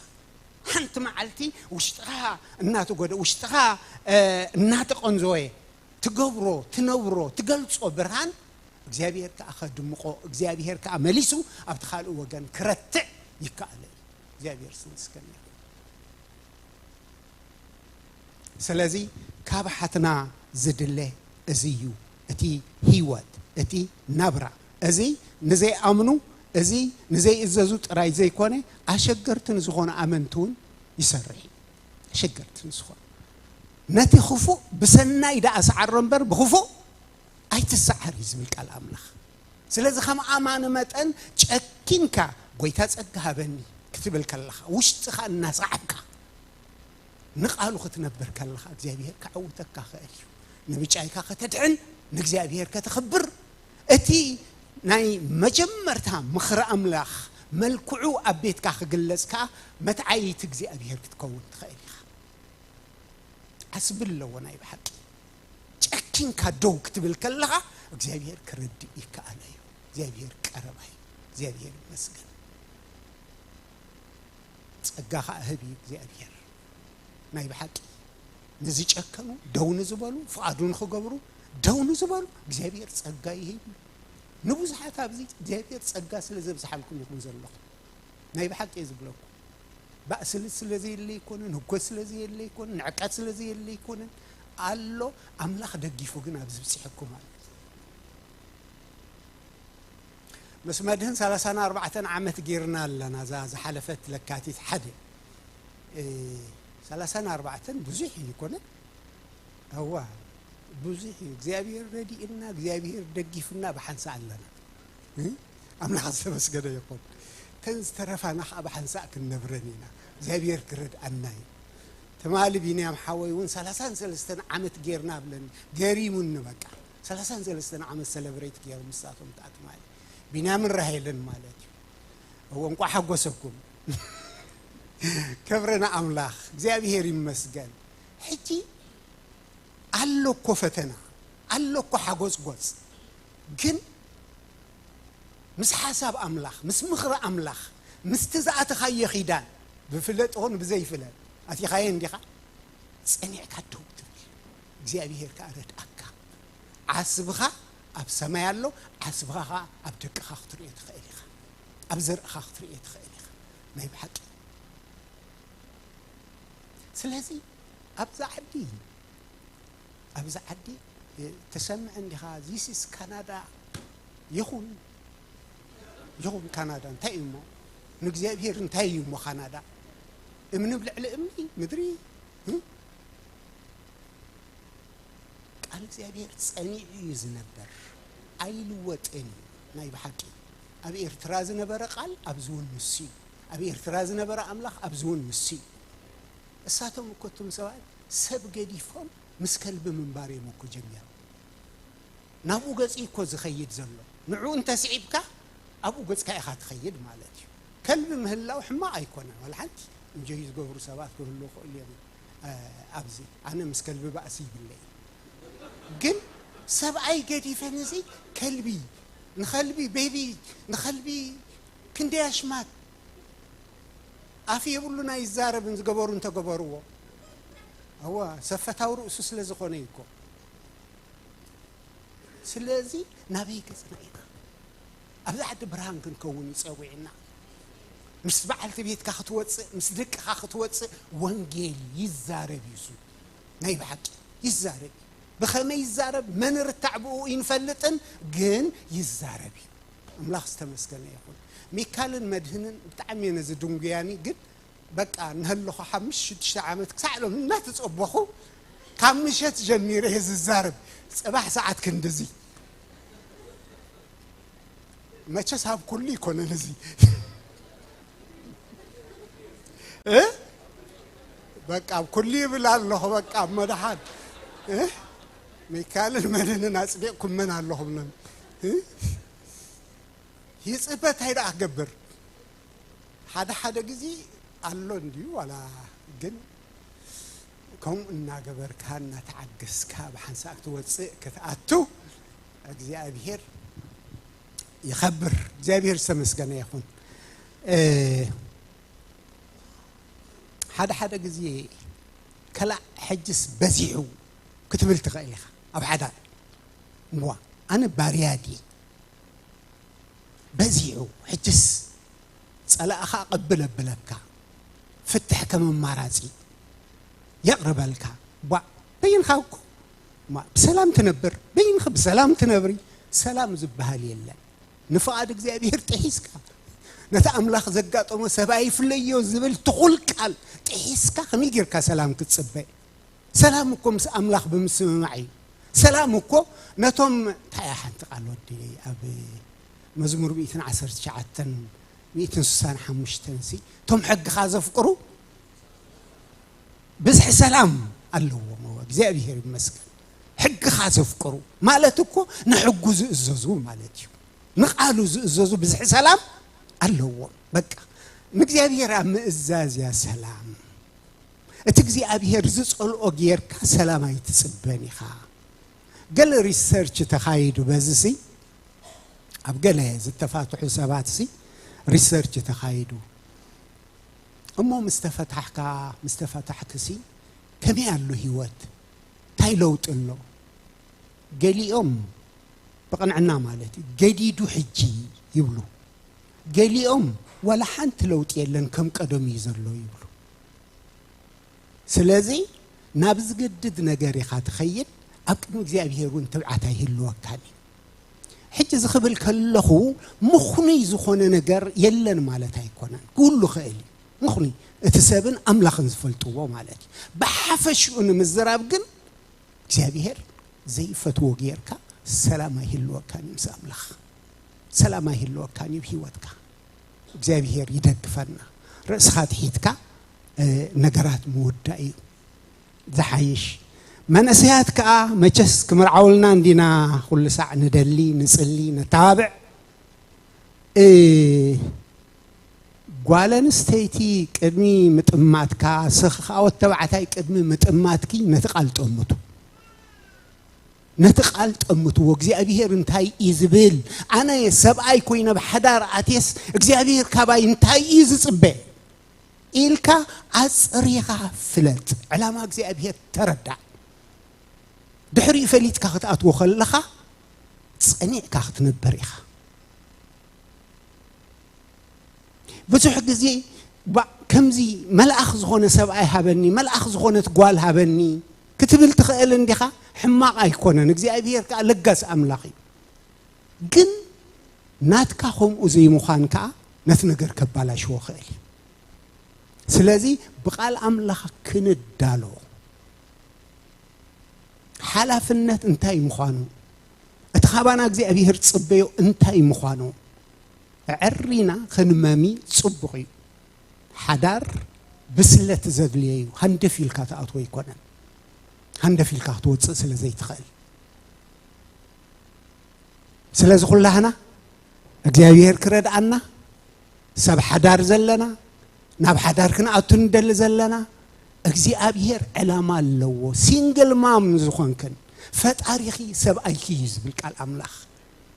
Speaker 2: ሓንቲ መዓልቲ ውሽጥኻ እናተጎደ ውሽጥኻ እናተቐንዘወ ትገብሮ ትነብሮ ትገልጾ ብርሃን እግዚኣብሄር ከኣ ከድምቆ እግዚኣብሄር ከኣ መሊሱ ኣብቲ ካልእ ወገን ክረትዕ ይከኣሎ እዩ እግዚኣብሄር ስም ስከም ይኹን ስለዚ ካብ ሓትና ዝድለ እዚ እዩ እቲ ህይወት እቲ ናብራ እዚ ንዘይኣምኑ እዚ ንዘይእዘዙ ጥራይ ዘይኮነ ኣሸገርቲ ንዝኾኑ ኣመንቲ እውን ይሰርሕ እዩ ኣሸገርቲ ንዝኾኑ ነቲ ኽፉእ ብሰናይ ደኣ ስዓሮ እምበር ብኽፉእ ኣይትስዓር እዩ ዝብል ቃል ኣምላኽ። ስለዚ ከም ኣማኒ መጠን ጨኪንካ ጎይታ ጸጋ ሃበኒ ክትብል ከለኻ ውሽጥኻ እናሰዓብካ ንቃሉ ክትነብር ከለኻ እግዚኣብሄር ከዐውተካ ይኽእል እዩ። ንብጫይካ ከተድሕን ንእግዚኣብሄር ከተኽብር እቲ ናይ መጀመርታ ምኽሪ ኣምላኽ መልክዑ ኣብ ቤትካ ክግለጽ ከኣ መትዓይይቲ እግዚኣብሄር ክትከውን ትኽእል ኢኻ። ዓስቢ ኣለዎ ናይ ብሓቂ ጨኪንካ ደው ክትብል ከለኻ እግዚኣብሄር ክርድእ ይከኣሎ እዩ እግዚኣብሄር ቀረባ እዩ እግዚኣብሄር ይመስገን ጸጋ ከዓ ህብ እዩ እግዚኣብሄር ናይ ብሓቂ ንዝጨከኑ ደው ንዝበሉ ፍቓዱ ንክገብሩ ደው ንዝበሉ እግዚኣብሄር ጸጋ ይህብ እዩ ንብዙሓት ኣብዚ እግዚኣብሄር ጸጋ ስለ ዘብዝሓልኩም ኢኹም ዘለኹም ናይ ብሓቂ እየ ዝብለኩም ባእሲ ስለ ዘየለ ኣይኮነን፣ ህኮት ስለ ዘየለ ኣይኮነን፣ ንዕቀት ስለ ዘየለ ኣይኮነን፣ ኣሎ ኣምላኽ ደጊፉ ግን ኣብዚ ብጺሑኩም ኣሎ። ምስ መድህን ሰላሳን ኣርባዕተን ዓመት ጌርና ኣለና እዛ ዝሓለፈት ለካቲት ሓደ ሰላሳን ኣርባዕተን ብዙሕ እዩ ይኮነ እዋ ብዙሕ እዩ እግዚኣብሄር ረዲእና እግዚኣብሄር ደጊፉና ብሓንሳእ ኣለና ኣምላኽ ዝተመስገነ ይኹን እተን ዝተረፋና ከኣ ብሓንሳእ ክንነብረን ኢና እግዚኣብሔር ክረድኣና እዩ ትማሊ ቢንያም ሓወይ እውን ሰላሳን ሰለስተን ዓመት ጌርና ብለኒ ገሪሙኒ በቃ ሰላሳን ሰለስተን ዓመት ሰለብሬት ገይሮም ንሳቶም ከኣ ትማሊ ቢንያምን ራሄልን ማለት እዩ እዎ እንቋዕ ሓጎሰኩም ክብሪ ንኣምላኽ እግዚኣብሔር ይመስገን ሕጂ ኣሎ እኮ ፈተና ኣሎ እኮ ሓጎጽጎጽ ግን ምስ ሓሳብ ኣምላኽ ምስ ምኽሪ ኣምላኽ ምስቲ ዝኣተኻዮ ኺዳን ብፍለጥ ኾኑ ብዘይፍለጥ ኣቲኻዮ እንዲኻ ጸኒዕካ ደው ትብል እግዚኣብሄር ከኣ ረድኣካ ዓስብኻ ኣብ ሰማይ ኣሎ ዓስብኻ ኸኣ ኣብ ደቅኻ ክትርእዮ ትኽእል ኢኻ ኣብ ዘርእኻ ክትርእዮ ትኽእል ኢኻ ናይ ብሓቂ ስለዚ ኣብዛ ዓዲ ኣብዚ ዓዲ ትሰምዕ እንዲኻ ዚስስ ካናዳ ይኹን ይኹን ካናዳ እንታይ እዩ እሞ ንእግዚኣብሔር እንታይ እዩ እሞ ካናዳ እምኒ ብ ልዕሊ እምኒ ምድሪ ቃል እግዚኣብሔር ጸኒዑ እዩ ዝነበር ኣይልወጥን እዩ ናይ ብሓቂ ኣብ ኤርትራ ዝነበረ ቃል ኣብዚ እውን ንሱ እዩ ኣብ ኤርትራ ዝነበረ ኣምላኽ ኣብዚ እውን ንሱ እዩ እሳቶም እኮ እቱም ሰባት ሰብ ገዲፎም ምስ ከልቢ ምንባር እዮም እኮ ጀሚሮም ናብኡ ገጽ እኮ ዝኸይድ ዘሎ ንዑ እንተስዒብካ ኣብኡ ገጽካ ኢኻ ትኸይድ ማለት እዩ ከልቢ ምህላው ሕማቕ ኣይኮነን ዋላ ሓንቲ እንጆይ ዝገብሩ ሰባት ክህሉ ክእሉ እዮም ኣብዚ ኣነ ምስ ከልቢ ባእሲ ይብለይ ግን ሰብኣይ ገዲፈ ነዚ ከልቢ ንኸልቢ ቤቢ ንኸልቢ ክንደይ ኣሽማት ኣፍ የብሉን ኣይዛረብን ዝገበሩ እንተገበርዎ ኣዋ ሰብ ፈታዊ ርእሱ ስለ ዝኾነ እዩ እኮ ስለዚ ናበይ ገጽና ኢና ኣብዚ ዓዲ ብርሃን ክንከውን እዩ ጸዊዕና ምስ በዓልቲ ቤትካ ክትወፅእ ምስ ደቅኻ ክትወፅእ ወንጌል ይዛረብ እዩ እሱ ናይ ብሓቂ ይዛረብ እዩ ብኸመይ ይዛረብ መን ርታዕ ብኡ ይንፈልጥን ግን ይዛረብ እዩ ኣምላኽ ዝተመስገነ ይኹን ሚካልን መድህንን ብጣዕሚ እየ ነዚ ድንጉያኒ ግን በቃ እናሃለኹ ሓምሽተ ሽዱሽተ ዓመት ክሳዕ ሎም እናተጸበኹ ካብ ምሸት ጀሚረ እየ ዝዛረብ ጽባሕ ሰዓት ክንድዚ መቸስ ኣብ ኩሉ ይኮነን እዚ እ በቃ ኣብ ኩሉ ይብል ኣለኹ በቃ ኣብ መድሓን እ ሚካልን መድህንን ኣጽዲቕኩመን ኣለኹም ሎም ይጽበ ታይ ደኣ ክገብር ሓደ ሓደ ግዜ ኣሎ እንድዩ ዋላ ግን ከምኡ እናገበርካ እናተዓገስካ ብሓንሳእ ክትወፅእ ክትኣቱ እግዚኣብሄር ይኸብር እግዚኣብሄር ዝተመስገነ ይኹን ሓደ ሓደ ግዜ ከላእ ሕጅስ በዚሑ ክትብል ትኽእል ኢኻ ኣብ ሓዳር እዋ ኣነ ባርያ ድየ በዚሑ ሕጅስ ጸላእኻ ቅብል ኣብለካ ፍትሕ ከም ኣማራጺ የቅርበልካ እዋ በይንኻ እኮ እማ ብሰላም ትነብር በይንኺ ብሰላም ትነብሪ ሰላም ዝበሃል የለን ንፍቓድ እግዚኣብሔር ጥሒስካ ነቲ ኣምላኽ ዘጋጠሞ ሰብ ኣይፍለዮ ዝብል ትኹል ቃል ጥሒስካ ከመይ ጌርካ ሰላም ክትጽበ ሰላም እኮ ምስ ኣምላኽ ብምስምማዕ እዩ ሰላም እኮ ነቶም እንታይ እያ ሓንቲ ቃል ወዲለይ ኣብ መዝሙር ሚእትን ዓሰርተ ትሽዓተን ሚእትን ስሳን ሓሙሽተን ሲ እቶም ሕግኻ ዘፍቅሩ ብዝሒ ሰላም ኣለዎም እወ እግዚኣብሄር ይመስገን ሕግኻ ዘፍቅሩ ማለት እኮ ንሕጉ ዝእዘዙ ማለት እዩ ንቃሉ ዝእዘዙ ብዝሒ ሰላም ኣለዎም በቃ ንእግዚኣብሄር ኣብ ምእዛዝ እያ ሰላም እቲ እግዚኣብሄር ዝጸልኦ ጌርካ ሰላም ኣይትጽበን ኢኻ። ገለ ሪሰርች ተኻይዱ በዚሲ ኣብ ገለ ዝተፋትሑ ሰባትሲ ሪሰርች ተኻይዱ እሞ ምስ ተፈታሕካ ምስ ተፈታሕክሲ ከመይ ኣሉ ህይወት እንታይ ለውጢ ኣሎ ገሊኦም ብቕንዕና ማለት እዩ ገዲዱ ሕጂ ይብሉ ገሊኦም ዋላ ሓንቲ ለውጢ የለን ከም ቀደሙ እዩ ዘሎ ይብሉ ስለዚ ናብ ዝገድድ ነገር ኢኻ ትኸይድ፣ ኣብ ቅድሚ እግዚኣብሄር እውን ትብዓት ኣይህልወካን እዩ። ሕጂ እዚ ክብል ከለኹ ምኽኑይ ዝኾነ ነገር የለን ማለት ኣይኮነን፣ ክህሉ ክእል እዩ። ምኽኑይ እቲ ሰብን ኣምላኽን ዝፈልጥዎ ማለት እዩ። ብሓፈሽኡ ንምዝራብ ግን እግዚኣብሄር ዘይፈትዎ ጌርካ ሰላም ኣይህልወካን እዩ ምስ ኣምላኽ ሰላም ኣይህልወካን እዩ ሂወትካ እግዚኣብሄር ይደግፈና ርእስኻ ትሒትካ ነገራት ምውዳእ እዩ ዝሓይሽ መንእሰያት ከዓ መቸስ ክምርዓውልና እንዲና ኩሉ ሳዕ ንደሊ ንፅሊ ነተባብዕ ጓል ኣንስተይቲ ቅድሚ ምጥማትካ ስኽኻወት ተባዕታይ ቅድሚ ምጥማትኪ ነቲ ቃል ጠምቱ ነቲ ቃል ጠምትዎ እግዚኣብሄር እንታይ እዩ ዝብል ኣነ ሰብኣይ ኮይነ ኣብ ሓዳር ኣትየስ እግዚኣብሄር ካባይ እንታይ እዩ ዝፅበ ኢልካ ኣፅሪኻ ፍለጥ ዕላማ እግዚኣብሄር ተረዳእ ድሕሪኡ ፈሊጥካ ክትኣትዎ ከለኻ ፀኒዕካ ክትነበር ኢኻ ብዙሕ ግዜ ከምዚ መልኣኽ ዝኾነ ሰብኣይ ሃበኒ መልኣኽ ዝኾነት ጓል ሃበኒ ክትብል ትኽእል እንዲኻ፣ ሕማቕ ኣይኮነን፣ እግዚኣብሄር ከኣ ለጋስ ኣምላኽ እዩ። ግን ናትካ ከምኡ ዘይምዃን ከኣ ነቲ ነገር ከባላሽዎ ክእል እዩ። ስለዚ ብቃል ኣምላኽ ክንዳሎ ሓላፍነት እንታይ ምዃኑ እቲ ካባና እግዚኣብሄር ዝጽበዮ እንታይ ምዃኑ ኣዐሪና ክንመሚ ጽቡቕ እዩ። ሓዳር ብስለት ዘድልዮ እዩ። ሃንደፍ ኢልካ ትኣትዎ ኣይኮነን። ሃንደፍ ኢልካ ክትወፅእ ስለ ዘይትኽእል ስለዚ ኩላህና እግዚኣብሔር ክረድኣና ሰብ ሓዳር ዘለና ናብ ሓዳር ክንኣቱ ንደሊ ዘለና እግዚኣብሔር ዕላማ ኣለዎ። ሲንግል ማም ዝኾንክን ፈጣሪኺ ሰብኣይኪ እዩ ዝብል ቃል ኣምላኽ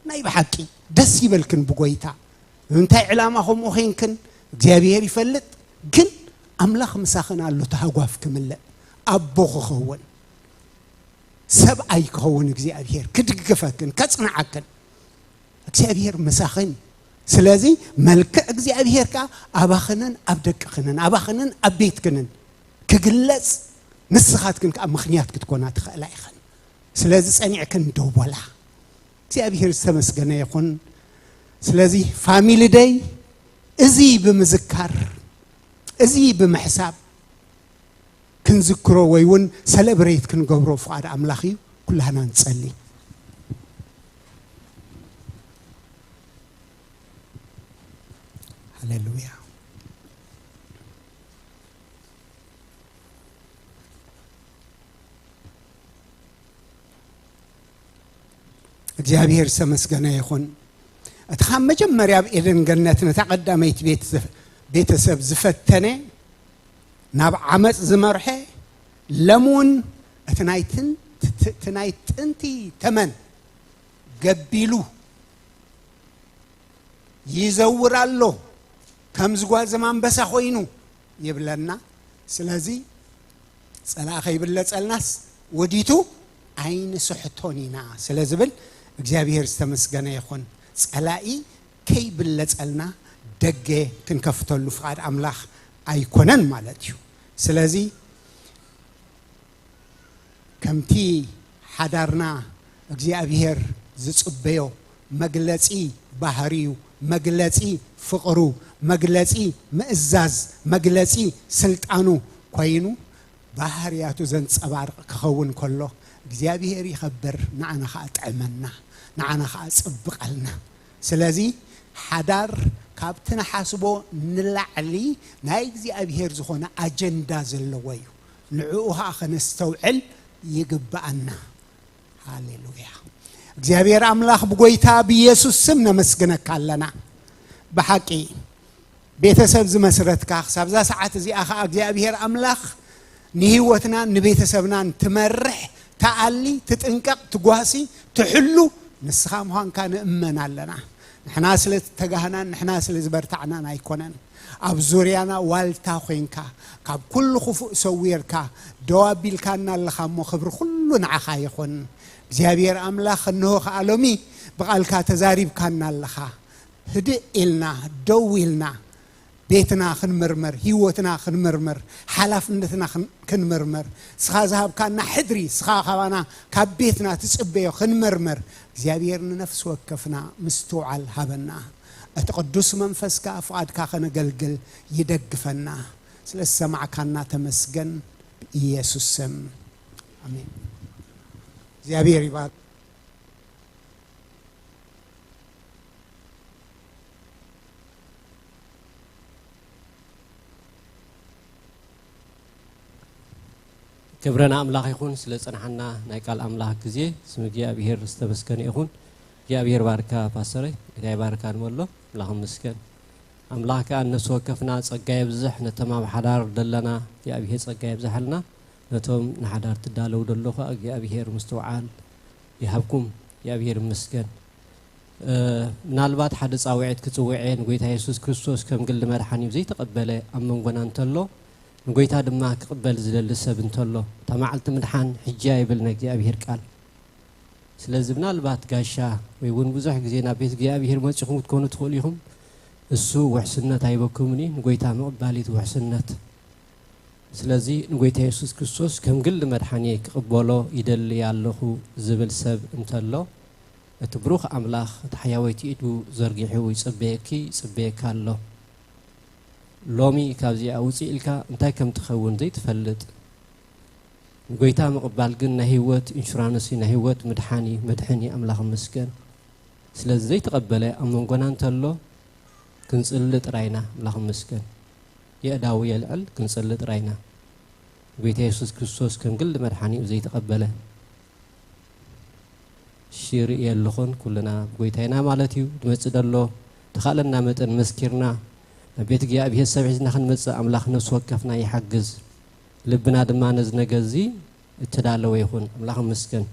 Speaker 2: ናይ ብሓቂ ደስ ይበልክን ብጎይታ ንምንታይ ዕላማ ከምኡ ዄንክን እግዚኣብሄር ይፈልጥ፣ ግን ኣምላኽ ምሳኽን ኣሎ፣ እቲ ሃጓፍ ክምለእ፣ ኣቦ ክኸውን፣ ሰብኣይ ክኸውን እግዚኣብሄር ክድግፈክን ከጽንዓክን እግዚኣብሄር ምሳኽን እዩ። ስለዚ መልክዕ እግዚኣብሄር ከኣ ኣባኽንን ኣብ ደቅኽንን ኣባኽንን ኣብ ቤትክንን ክግለጽ ንስኻትክን ከኣ ምኽንያት ክትኮና ትኽእላ ኢኽን። ስለዚ ጸኒዕክን ደው በላ። እግዚኣብሔር ዝተመስገነ ይኹን ስለዚ ፋሚሊ ደይ እዚ ብምዝካር እዚ ብምሕሳብ ክንዝክሮ ወይ እውን ሰለብሬት ክንገብሮ ፍቓድ ኣምላኽ እዩ ኩላህና ንጸሊ ሃሌሉያ እግዚኣብሔር ዝተመስገነ ይኹን እቲ ካብ መጀመርያ ኣብ ኤደን ገነት ነታ ቀዳመይቲ ቤተሰብ ዝፈተነ ናብ ዓመፅ ዝመርሐ ለም እውን እቲ ናይ ጥንቲ ተመን ገቢሉ ይዘውር ኣሎ ከም ዝጓዘም ኣንበሳ ኮይኑ ይብለና ስለዚ ፀላእ ከይብለፀልናስ ወዲቱ ኣይንስሕቶን ኢና ስለ ዝብል እግዚኣብሄር ዝተመስገነ ይኹን። ጸላኢ ከይብለጸልና ደገ ክንከፍተሉ ፍቓድ ኣምላኽ ኣይኮነን ማለት እዩ። ስለዚ ከምቲ ሓዳርና እግዚኣብሄር ዝጽበዮ መግለጺ ባህርዩ፣ መግለጺ ፍቕሩ፣ መግለጺ ምእዛዝ፣ መግለጺ ስልጣኑ ኮይኑ ባህርያቱ ዘንጸባርቕ ክኸውን ከሎ እግዚኣብሄር ይኸብር ንዓና ከኣ ጥዕመና ንዓና ከኣ ጽብቐልና ስለዚ ሓዳር ካብቲ ንሓስቦ ንላዕሊ ናይ እግዚኣብሄር ዝኾነ ኣጀንዳ ዘለዎ እዩ ንዕኡ ከኣ ከነስተውዕል ይግብኣና። ሃሌሉያ እግዚኣብሔር ኣምላኽ ብጎይታ ብኢየሱስ ስም ነመስግነካ ኣለና ብሓቂ ቤተሰብ ዝመስረትካ ክሳብ እዛ ሰዓት እዚኣ ከዓ እግዚኣብሔር ኣምላኽ ንህይወትናን ንቤተሰብናን ትመርሕ ተኣሊ ትጥንቀቕ ትጓሲ ትሕሉ ንስኻ ምዃንካ ንእመን ኣለና ንሕና ስለ ዝተጋህናን ንሕና ስለ ዝበርታዕናን ኣይኮነን፣ ኣብ ዙርያና ዋልታ ኮይንካ ካብ ኩሉ ክፉእ ሰዊርካ ደው ኣቢልካና ኣለኻ እሞ ክብሪ ኩሉ ንዓኻ ይኹን እግዚኣብሄር ኣምላኽ እንሆ ከኣ ሎሚ ብቃልካ ተዛሪብካና ኣለኻ ህድእ ኢልና ደው ኢልና ቤትና ክንምርምር፣ ህይወትና ክንምርምር፣ ሓላፍነትና ክንምርምር፣ እስኻ ዝሃብካና ሕድሪ፣ እስኻ ካባና ካብ ቤትና ትጽበዮ ክንምርምር፣ እግዚኣብሔር ንነፍሲ ወከፍና ምስትውዓል ሃበና። እቲ ቅዱስ መንፈስካ ፍቓድካ ከነገልግል ይደግፈና። ስለ ዝሰማዕካና ተመስገን ብኢየሱስ ስም ኣሜን። እግዚኣብሔር ይባርክ።
Speaker 1: ክብረ ንኣምላኽ ይኹን ስለ ፅንሓና ናይ ቃል ኣምላኽ ግዜ ስም እግዚኣብሄር ዝተመስገነ ይኹን እግዚኣብሄር ባርካ ፓስተረይ ጌታ ይባርካ ንበሎ ኣምላኽ ምስገን ኣምላኽ ከዓ እነሱ ወከፍና ፀጋ የብዝሕ ነቶም ኣብ ሓዳር ዘለና እግዚኣብሄር ፀጋ የብዝሓልና ነቶም ንሓዳር ትዳለው ደሎ ከዓ እግዚኣብሄር ምስትውዓል ይሃብኩም እግዚኣብሄር ምስገን ምናልባት ሓደ ጻውዒት ክጽውዔ ንጐይታ የሱስ ክርስቶስ ከም ግሊ መድሓኒኡ ዘይተቐበለ ኣብ መንጎና እንተሎ፣ ንጐይታ ድማ ክቕበል ዝደሊ ሰብ እንተሎ፣ እታ መዓልቲ ምድሓን ሕጂ'ያ ይብል ናይ እግዚኣብሄር ቃል። ስለዚ ምናልባት ጋሻ ወይ እውን ብዙሕ ግዜ ናብ ቤት እግዚኣብሄር መጺኹም ክትኮኑ ትኽእሉ ኢኹም። እሱ ውሕስነት ኣይበኩምን እዩ፣ ንጐይታ ምቕባል እቲ ውሕስነት። ስለዚ ንጐይታ የሱስ ክርስቶስ ከም ግሊ መድሓኒየይ ክቕበሎ ይደሊ ኣለኹ ዝብል ሰብ እንተሎ፣ እቲ ብሩኽ ኣምላኽ እታ ሕያወይቲ ኢዱ ዘርጊሑ ይጽበየኪ ይጽበየካ ኣሎ። ሎሚ ካብዚኣ ውጽእ ኢልካ እንታይ ከም ትኸውን ዘይትፈልጥ። ንጎይታ ምቕባል ግን ናይ ህይወት ኢንሹራንስ እዩ፣ ናይ ህይወት ምድሓን እዩ፣ መድሕን እዩ። ኣምላኽ ይመስገን። ስለዚ ዘይተቐበለ ኣብ መንጎና እንተሎ ክንጽሊ ጥራይ ኢና። ኣምላኽ ይመስገን። የእዳዉ የልዕል ክንጽሊ ጥራይ ኢና። ንጎይታ የሱስ ክርስቶስ ከም ግሊ መድሓኒኡ ዘይተቐበለ። እሺ ርእየ ኣሎኹን ኩልና ብጎይታ ኢና ማለት እዩ ድመጽእ ደሎ ድኻእለና መጠን መስኪርና ናብ ቤት እግዚኣብሔር ሰብ ሒዝና ክንመጽእ ኣምላኽ ነፍሲ ወከፍና ይሓግዝ ልብና ድማ ነዚ ነገር እዚ እተዳለወ ይኹን ኣምላኽ መስገን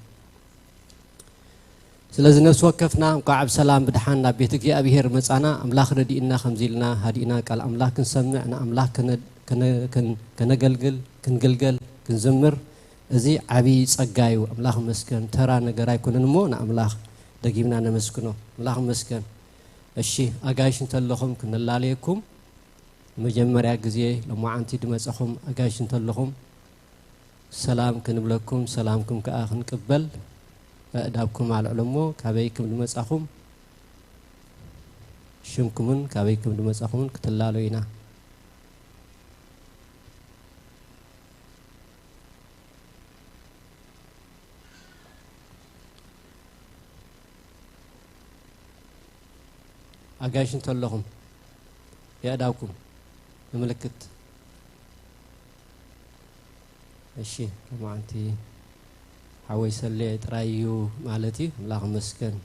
Speaker 1: ስለዚ ነፍሲ ወከፍና እንቋዕ ብሰላም ብድሓን ናብ ቤት እግዚኣብሔር መጻና ኣምላኽ ረዲእና ከምዚ ኢልና ሃዲእና ቃል ኣምላኽ ክንሰምዕ ንኣምላኽ ከነገልግል ክንግልገል ክንዝምር እዚ ዓቢ ጸጋ እዩ ኣምላኽ ይመስገን ተራ ነገር ኣይኮነን እሞ ንኣምላኽ ደጊምና ነመስግኖ ኣምላኽ ይመስገን እሺ ኣጋይሽ እንተለኹም ክንላለየኩም ንመጀመርያ ግዜ ሎማዓንቲ ድመጸኹም ኣጋይሽ እንተለኹም ሰላም ክንብለኩም ሰላምኩም ከኣ ክንቅበል ኣእዳብኩም ኣልዕሎ እሞ ካበይ ክም ድመጻኹም ሽምኩምን ካበይ ክም ድመጻኹምን ክትላለዩ ኢና ኣጋይሽ እንተለኹም የእዳውኩም ንምልክት እሺ ከማዓንቲ ሓወይ ሰልየ ጥራይ እዩ ማለት እዩ ኣምላኽ መስገን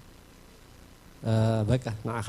Speaker 1: በቃ ንዓኻ